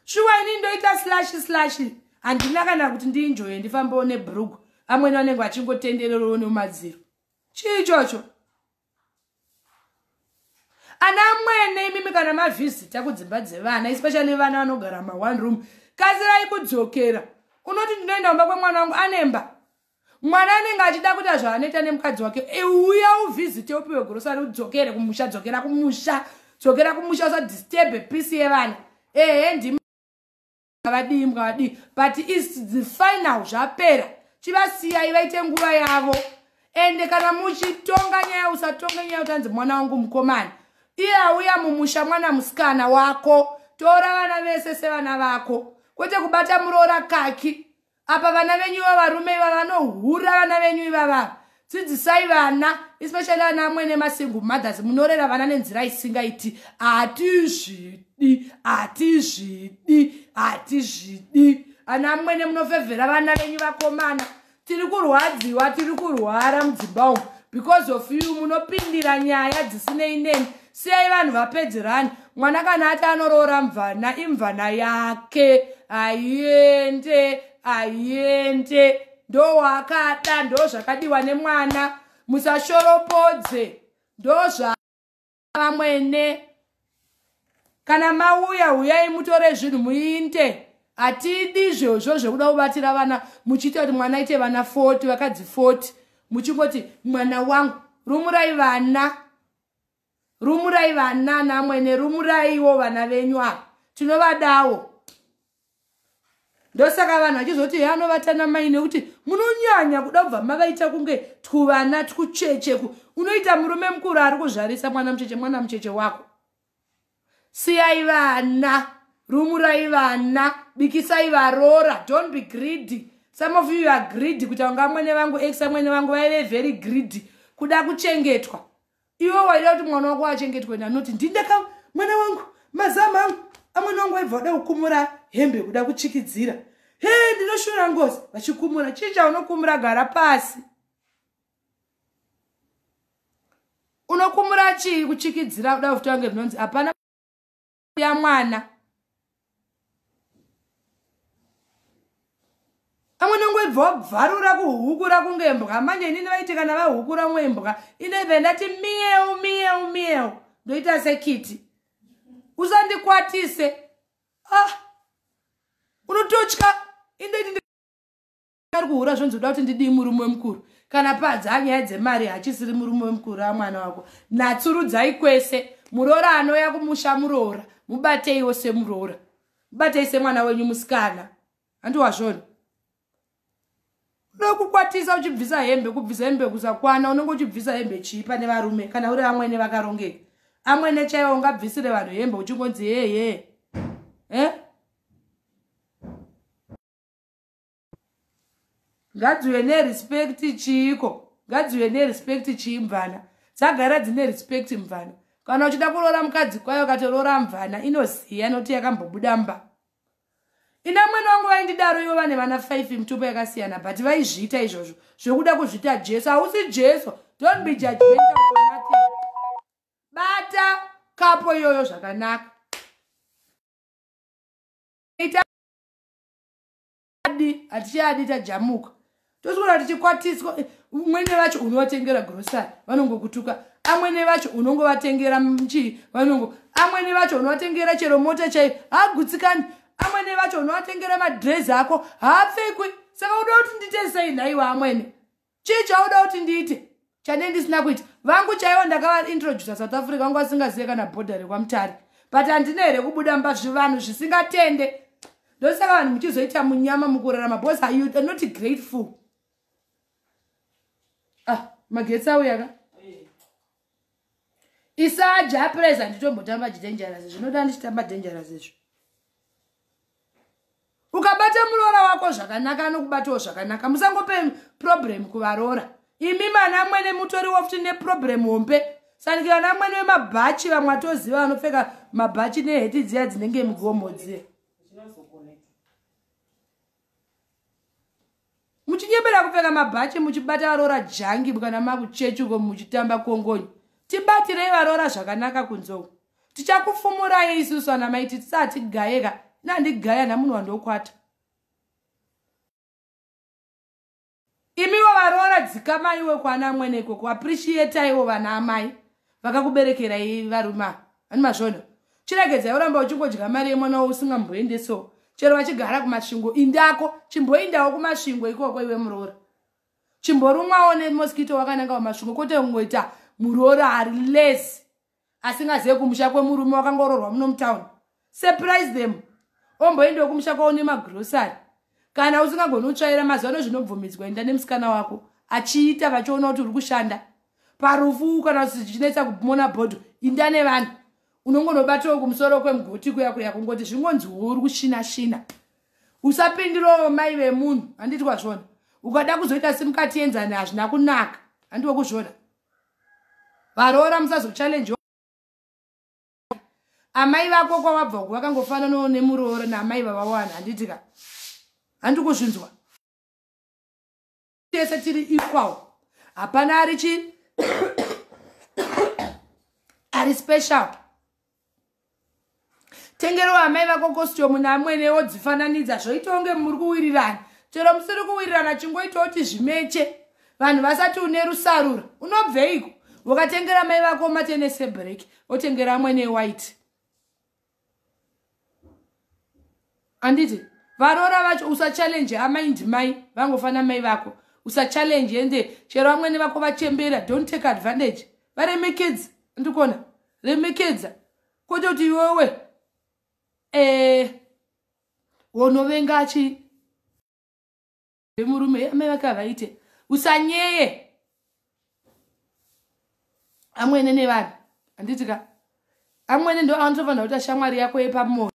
Speaker 1: shuwa ini ndoita slashi slashi handina kana kuti ndiinjoye ndifambewo nebrugu amwene vanenge vachingotendererowo nemumadziro chii chocho ana mwene imimi kana mavhizita kudzimba dzevana especially vana vanogara ma one room kazirai kudzokera unoti ndinoenda kumba kwemwana wangu anemba mwana anenge achida kuita zvaanoita nemukadzi wake e, uya uvhizite upiwe grosari udzokere kumusha dzokera kumusha dzokera kumusha usadisturbe peace yevana ehe ndimi ngavadii ngavadii but is the final zvapera chivasiyai vaite nguva yavo ende kana muchitonga nyaya usatonge nyaya utanzi mwana wangu mukomana iye auya mumusha mwana musikana wako tora vana vese sevana vako kwete kubata muroora kaki apa vana venyu iva varume iva vanohura vana venyu ivava dzidzisai vana especially vana amwene masingle mothers munorera vana nenzira isingaiti hatizvidi hatizvidi hatizvidi ana amwene munofevhera vana venyu vakomana tiri kurwadziwa tiri kurwara mudzimba umu because of you munopindira nyaya dzisinei neni Siyai vanhu vapedzerane. Mwana kana ati anoroora mvana imvana yake. Aiende, aiende. Ndo wakada ndo zvakadiwa nemwana. Musashoropodze. Ndo zva vamwene. Kana mauya huyai mutore zvinhu muinde. Atidi zvozvo zvekuda kubatira vana muchiita kuti mwana aite vana 40 vakadzi 40 muchingoti mwana wangu rumurai vana rumurai vana namwene rumuraiwo vana venyu ava tinovadawo ndosaka vanhu vachizoti he anovata namai nekuti munonyanya kuda kubva mavaita kunge twuvana twuchecheku unoita murume mukuru ari kuzvarisa mwana mucheche mwana mucheche wako Siyai vana, rumurai vana, bikisai varora, don't be greedy. Some of you are greedy kuti vanga mwene vangu ex amwene vangu vaive very greedy kuda kuchengetwa. Iwe waida kuti mwana wako achengetwe nanoti ndindaka mwana wangu mazama angu amwene wangu waibva wada kukumura hembe kuda kuchikidzira. He ndinoshura ngozi vachikumura. Chii chaunokumura gara pasi? unokumura chii kuchikidzira kuda kuti vange zvinonzi hapana ya mwana amwe nongwebva wabvarura kuhukura kunge mbwa manje inini vaiti kana vahukura mwe mbwa ineve ndati miyeu miyeu miyeu ndoita sekiti usandikwatise ah unototya indoiti ari kuhura zvonzi uda kuti ndidii murume wemukuru kana padzaa nyaya dzemari hachisiri murume wemukuru amwana wako natsurudzai kwese muroora anouya kumusha muroora mubateiwo semuroora mubatei semwana wenyu musikana handiwazvoni nokukwatisa uchibvisa hembe kubvisa hembe kusakwana unenge uchibvisa hembe chii pane varume kana uri amwene vakarongeka amwene chaiwo ungabvisire vanhu hembe uchingonzi heye eh? ngadziuye nerespect chiiko ngadziuye nerespect chii mvana dzagara dzine respect mvana kana uchida kuroora mukadzi kwayo katoroora mvana inoziya noti yakambobuda mba ina mwana wangu vaindidaro ivo vane vana 5 mitupo yakasiyana but vaizviita izvozvo zvekuda kuzviita jesu hausi jesu don't be judgmental for nothing bata kapo iyoyo zvakanaka adi hatichadi tajamuka tosvikoda tichikwatiswa umwene vacho unovatengera grosari vanongokutuka amwene vacho unongovatengera chii vanongo amwene vacho unovatengera chero mota chaiyo haagutsikani amwene vacho unovatengera madrezi ako haapfekwi saka uda kuti ndite sei nhaiwa amwene chii chauda kuti ndiite chanei ndisina kuita vangu chaivo ndakavaintrodusa south africa vangu vasingazive kana bhodha rekwamutari but handina here kubuda mba zvivanhu zvisingatende ndosaka vanhu muchizoita munyama mukurarama bcause you are not grateful ah magetsi auyaka isaja apres handitombotamba chidangerous zvinoda ndichitamba dangerous izvo ukabata muroora wako zvakanaka anokubatawo zvakanaka musangope problem kuvaroora imi mana amwene mutoriwo futi neproblem hombe sanike vana amwene vemabhachi vamwe atoziva vanopfeka mabhachi neheti dziya dzinenge mugomo dziya muchinyebera kupfeka mabhachi muchibata varoora jangi kana makuchechi uko muchitamba kongonyi tibatirei varoora zvakanaka kunzou tichakufumurai isusu ana mai tisati gayeka nandigaya namunhu wandokwata Imiwo varoora dzikamaiwe kwana amwene ikoko appreciataiwo vana amai vakakuberekerai varuma ani masvono chiregedzai uramba uchingodya mari yemwana wo usingamboendeso chero vachigara kumasvingo indako chimboindawo kumasvingo ikoko iwe muroora chimborumwawo nemoskito wakananga kumasvingo kwete kungoita muroora ari lesi asingazive kumusha kwemurume wakangororwa muno mutown surprise them omboendewo kumusha kwavo nemagrosary kana usingagoni kutsvaira mazuva ano zvinobvumidzwa enda nemusikana wako achiita vachiona kuti uri kushanda parufu kana kuti zvichinetsa kumona bhodho inda nevanhu unongonobatawo kumusoro kwemugoti kuya kuya kungoti zvingonzi uri kushina shina usapindirawo mai vemunhu handiti kwazvona ukada kuzoita simukati yenzani hazvina kunaka handiwe kuzvona varoora musazochallengewa amai vako kwawabva uku vakangofananawo nemuroora naamai vavawana handiti ka handi kuzvinzwa tese tiri equal hapana ari chii ari special tengero amai vako kostiumu namwene wodzifananidza zvoita kunge muri kuwirirana chero musiri kuwirirana chingoita kuti zvimeche vanhu vasati une rusarura unobveiko ukatengera mai vako matenese break otengera amwene white anditi varoora vacho usachallenge amai ndimai vangofana mai vako usachallenge ende chero vamwene vako vachembera don't take advantage varemekedza ndikona remekedza kwete kuti iwewe eh, wonovenga achi vemurume amai vake havaite usanyeye amwene nevanhu handitika amwene ndo anotofanira kuita shamwari yako yepamoyo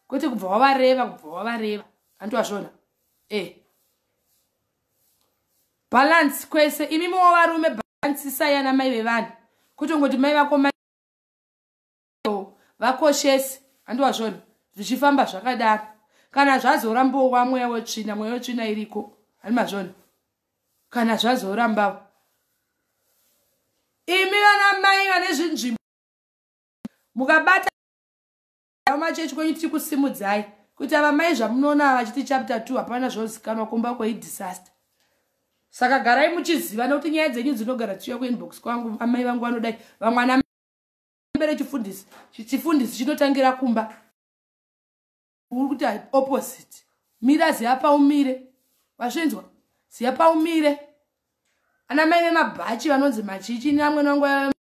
Speaker 1: kwete kubva wavareva kubva wavareva hanti wazvona e eh. balance kwese imi mowo varume balance isai ana mai vevanhu kutongoti mai vako mai vakoshesi hanti wazvona zvichifamba zvakadaro kana zvazorambowa mweya wetsvina mweya wetsvina iriko hani mazvona kana zvazorambawo imi vana mai vane zvinzvimbo mukabata vamachechi kwenyu tiri kusimudzai kuti ava mai zvamunoona vachiti chapter 2 hapana zvozikanwa kumba kwei disaster saka garai muchiziva nekuti nyaya dzenyu dzinogara dzichiuya kuinbox kwangu amai vangu vanodai vamwana mbere chifundisi chifundisi chinotangira kumba uri kuti opposite mira ziva paumire vasvinzwa ziva paumire ana mai vemabhachi vanonzi machichi neamwene wangu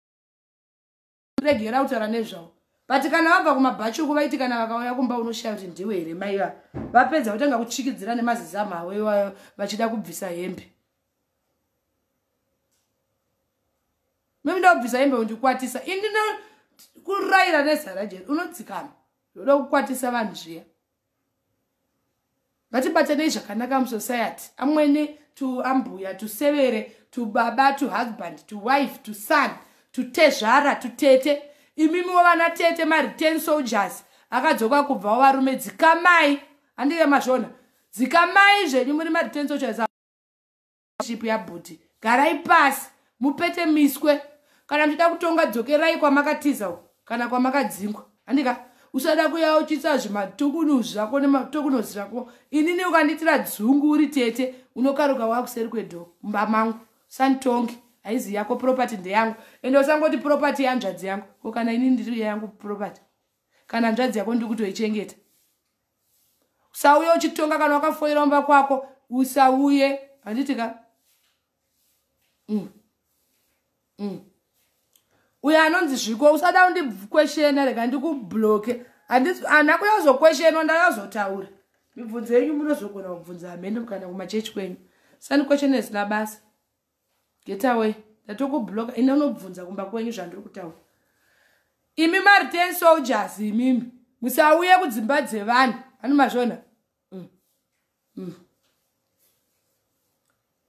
Speaker 1: kuregera kutaura nezvavo but kana vabva kumabhachi uku vaiti kana vakauya kumba unoshaya kuti ndiwe here mai va vapedza votanga kuchikidzira nemazizamu avo iwayo vachida kubvisa hembe memuda kubvisa hembe undikwatisa ini kurayira nezara jeri unodzikama ndoda kukwatisa vanhu zviya ngatibatanei zvakanaka musociety amwene to ambuya to severe to baba to husband to wife to son to tezvara to tete imimiwo vana tete mareturn soldiers akadzoka kubvawo varume dzikamai handike mazvona dzikamai zvenyu muri mareturn soldiers relationship yabhuti garai pasi mupete miswe kana muchida kutonga dzokerai kwamakatiza kana kwamakadzingwa handika usada kuyauchisa zvimatokuno zvako nematokuno zvako inini ukandiitira dzungu uri tete unokaruka wakuseri kwedho mumba mangu santongi haizi yako property ndeyangu ende usangoti property yanzvadzi yangu ko kana inini ndiri yangu property kana nzvadzi yako ndiri kutoichengeta usauye uchitonga kana wakafoira mumba kwako usauye handiti ka mm. mm. uyo anonzi zviko usada undikweshena rega ndikubloke handina kuyazokweshenwa ndayazotaura mibvunzo yenyu munozogona kubvunza hameno kana kumachechi kwenyu sandikweshena zina basa get away ndatokubloka ine unobvunza kumba kwenyu zvandiri kutaura imi mari ten soldiers imimi musauye kudzimba dzevanhu ani mazvona mm. mm.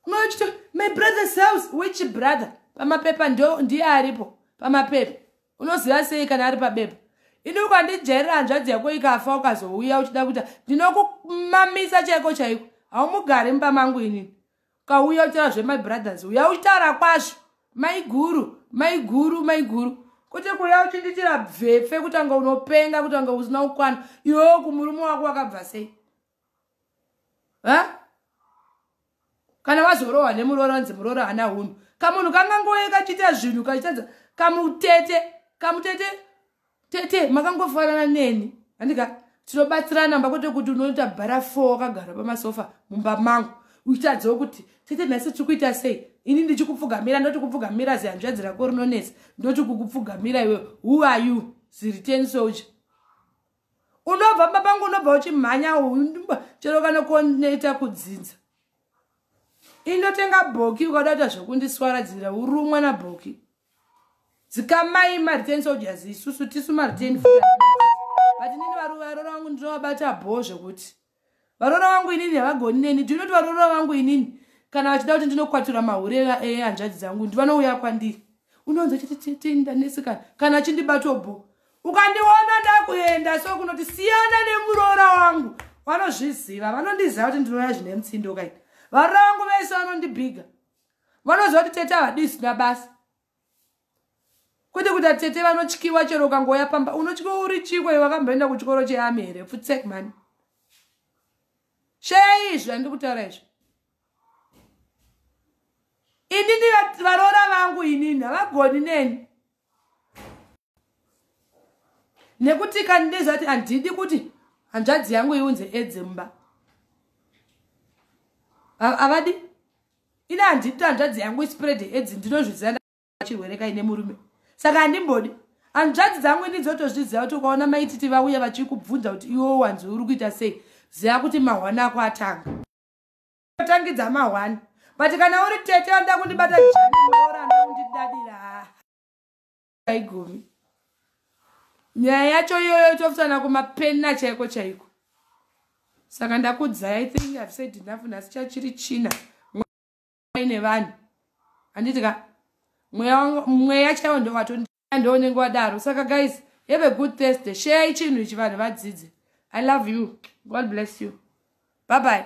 Speaker 1: unochito my brother's house which brother pamapepa ndo ndiye aripo pamapepa unoziva sei kana ari pabepa ini ukandijairira hanzvadzi yako ikafa ukazouya uchida kuita ndinokumamisa chaiko chaiko haumugari mumba mangu inini kauya uchitaura zvemai brothers uya uchitaura kwazvo maiguru maiguru maiguru kwete kuya uchindiitira bvepfe kuti anga unopenga kuti anga usina kukwana iwewo kumurume wako wakabva sei ha kana wazorohwa nemuroora anzi muroora hana hunhu kamunhu kangangoye kachiita zvinhu kachitadza kamutete kamutete tete makangofanana neni andika tinobatsirana mba kwete kuti unoita bara four wakagara pamasofa mumba mangu uchitadziwo kuti tete nhasi tiri kuita sei ini ndichikupfugamira ndoti kupfugamira zihanzvadzi rako rinonetsa ndoti kukupfugamira iwe who are you ziriten soldier unobva mba pangu unobva uchimhanya chero kana kunoita kudzinza indotenga bhoki ukada kuita zvekundiswaradzira urumwa nabhoki dzikamai mariten soldiers isusu tisu mariten but inini varoora vangu ndinovabata bho zvekuti varoora vangu inini havagoni neni ndinoti varoora vangu inini kana vachida kuti ndinokwatura mahure ehanzvadzi dzangu ndi vanouya kwandiri unonzi chititendanesikana kana chindibatwa bho ukandiona ndakuenda so kunoti siyana nemuroora wangu vanozviziva vanondiziva kuti ndinouya zvine mutsindo kaini varoora vangu vese vanondibhiga vanoziva kuti tete havadi zvisina basa kwete kuti atete vanotyiwa chero ukangoya pamba unotyiwa uri chiko iwe wakamboenda kuchikoro cheami here futsek mani sheya izvi andiri kutaura izvi inini varoora vangu inini havagoni neni nekuti kandizati handidi kuti hanzvadzi yangu iunze edze mumba havadi ine handidi kuti hanzvadzi yangu ispread edzi ndinozviziva ndachirwere kaine murume saka handimbodi hanzvadzi dzangu ini dzotozviziva kuti ukaona maititi vauya vachikubvunza kuti iwo wanzwi uri kuita sei ziva kuti mahwani ako atanga otangidza mahwani but kana uri tete anoda kundibata janiora anoda kundidadira haigumi nyaya yacho iyoyo tofutsana kumapena chaiko chaiko saka ndakudzai i think ihave said enough nhasi chachiri china ine vanhu handiti ka mweya chaiwo ndowatondoonenge wadaro saka guys have a good thursday share ichinhu ichi vanhu vadzidze i love you god bless you bye bye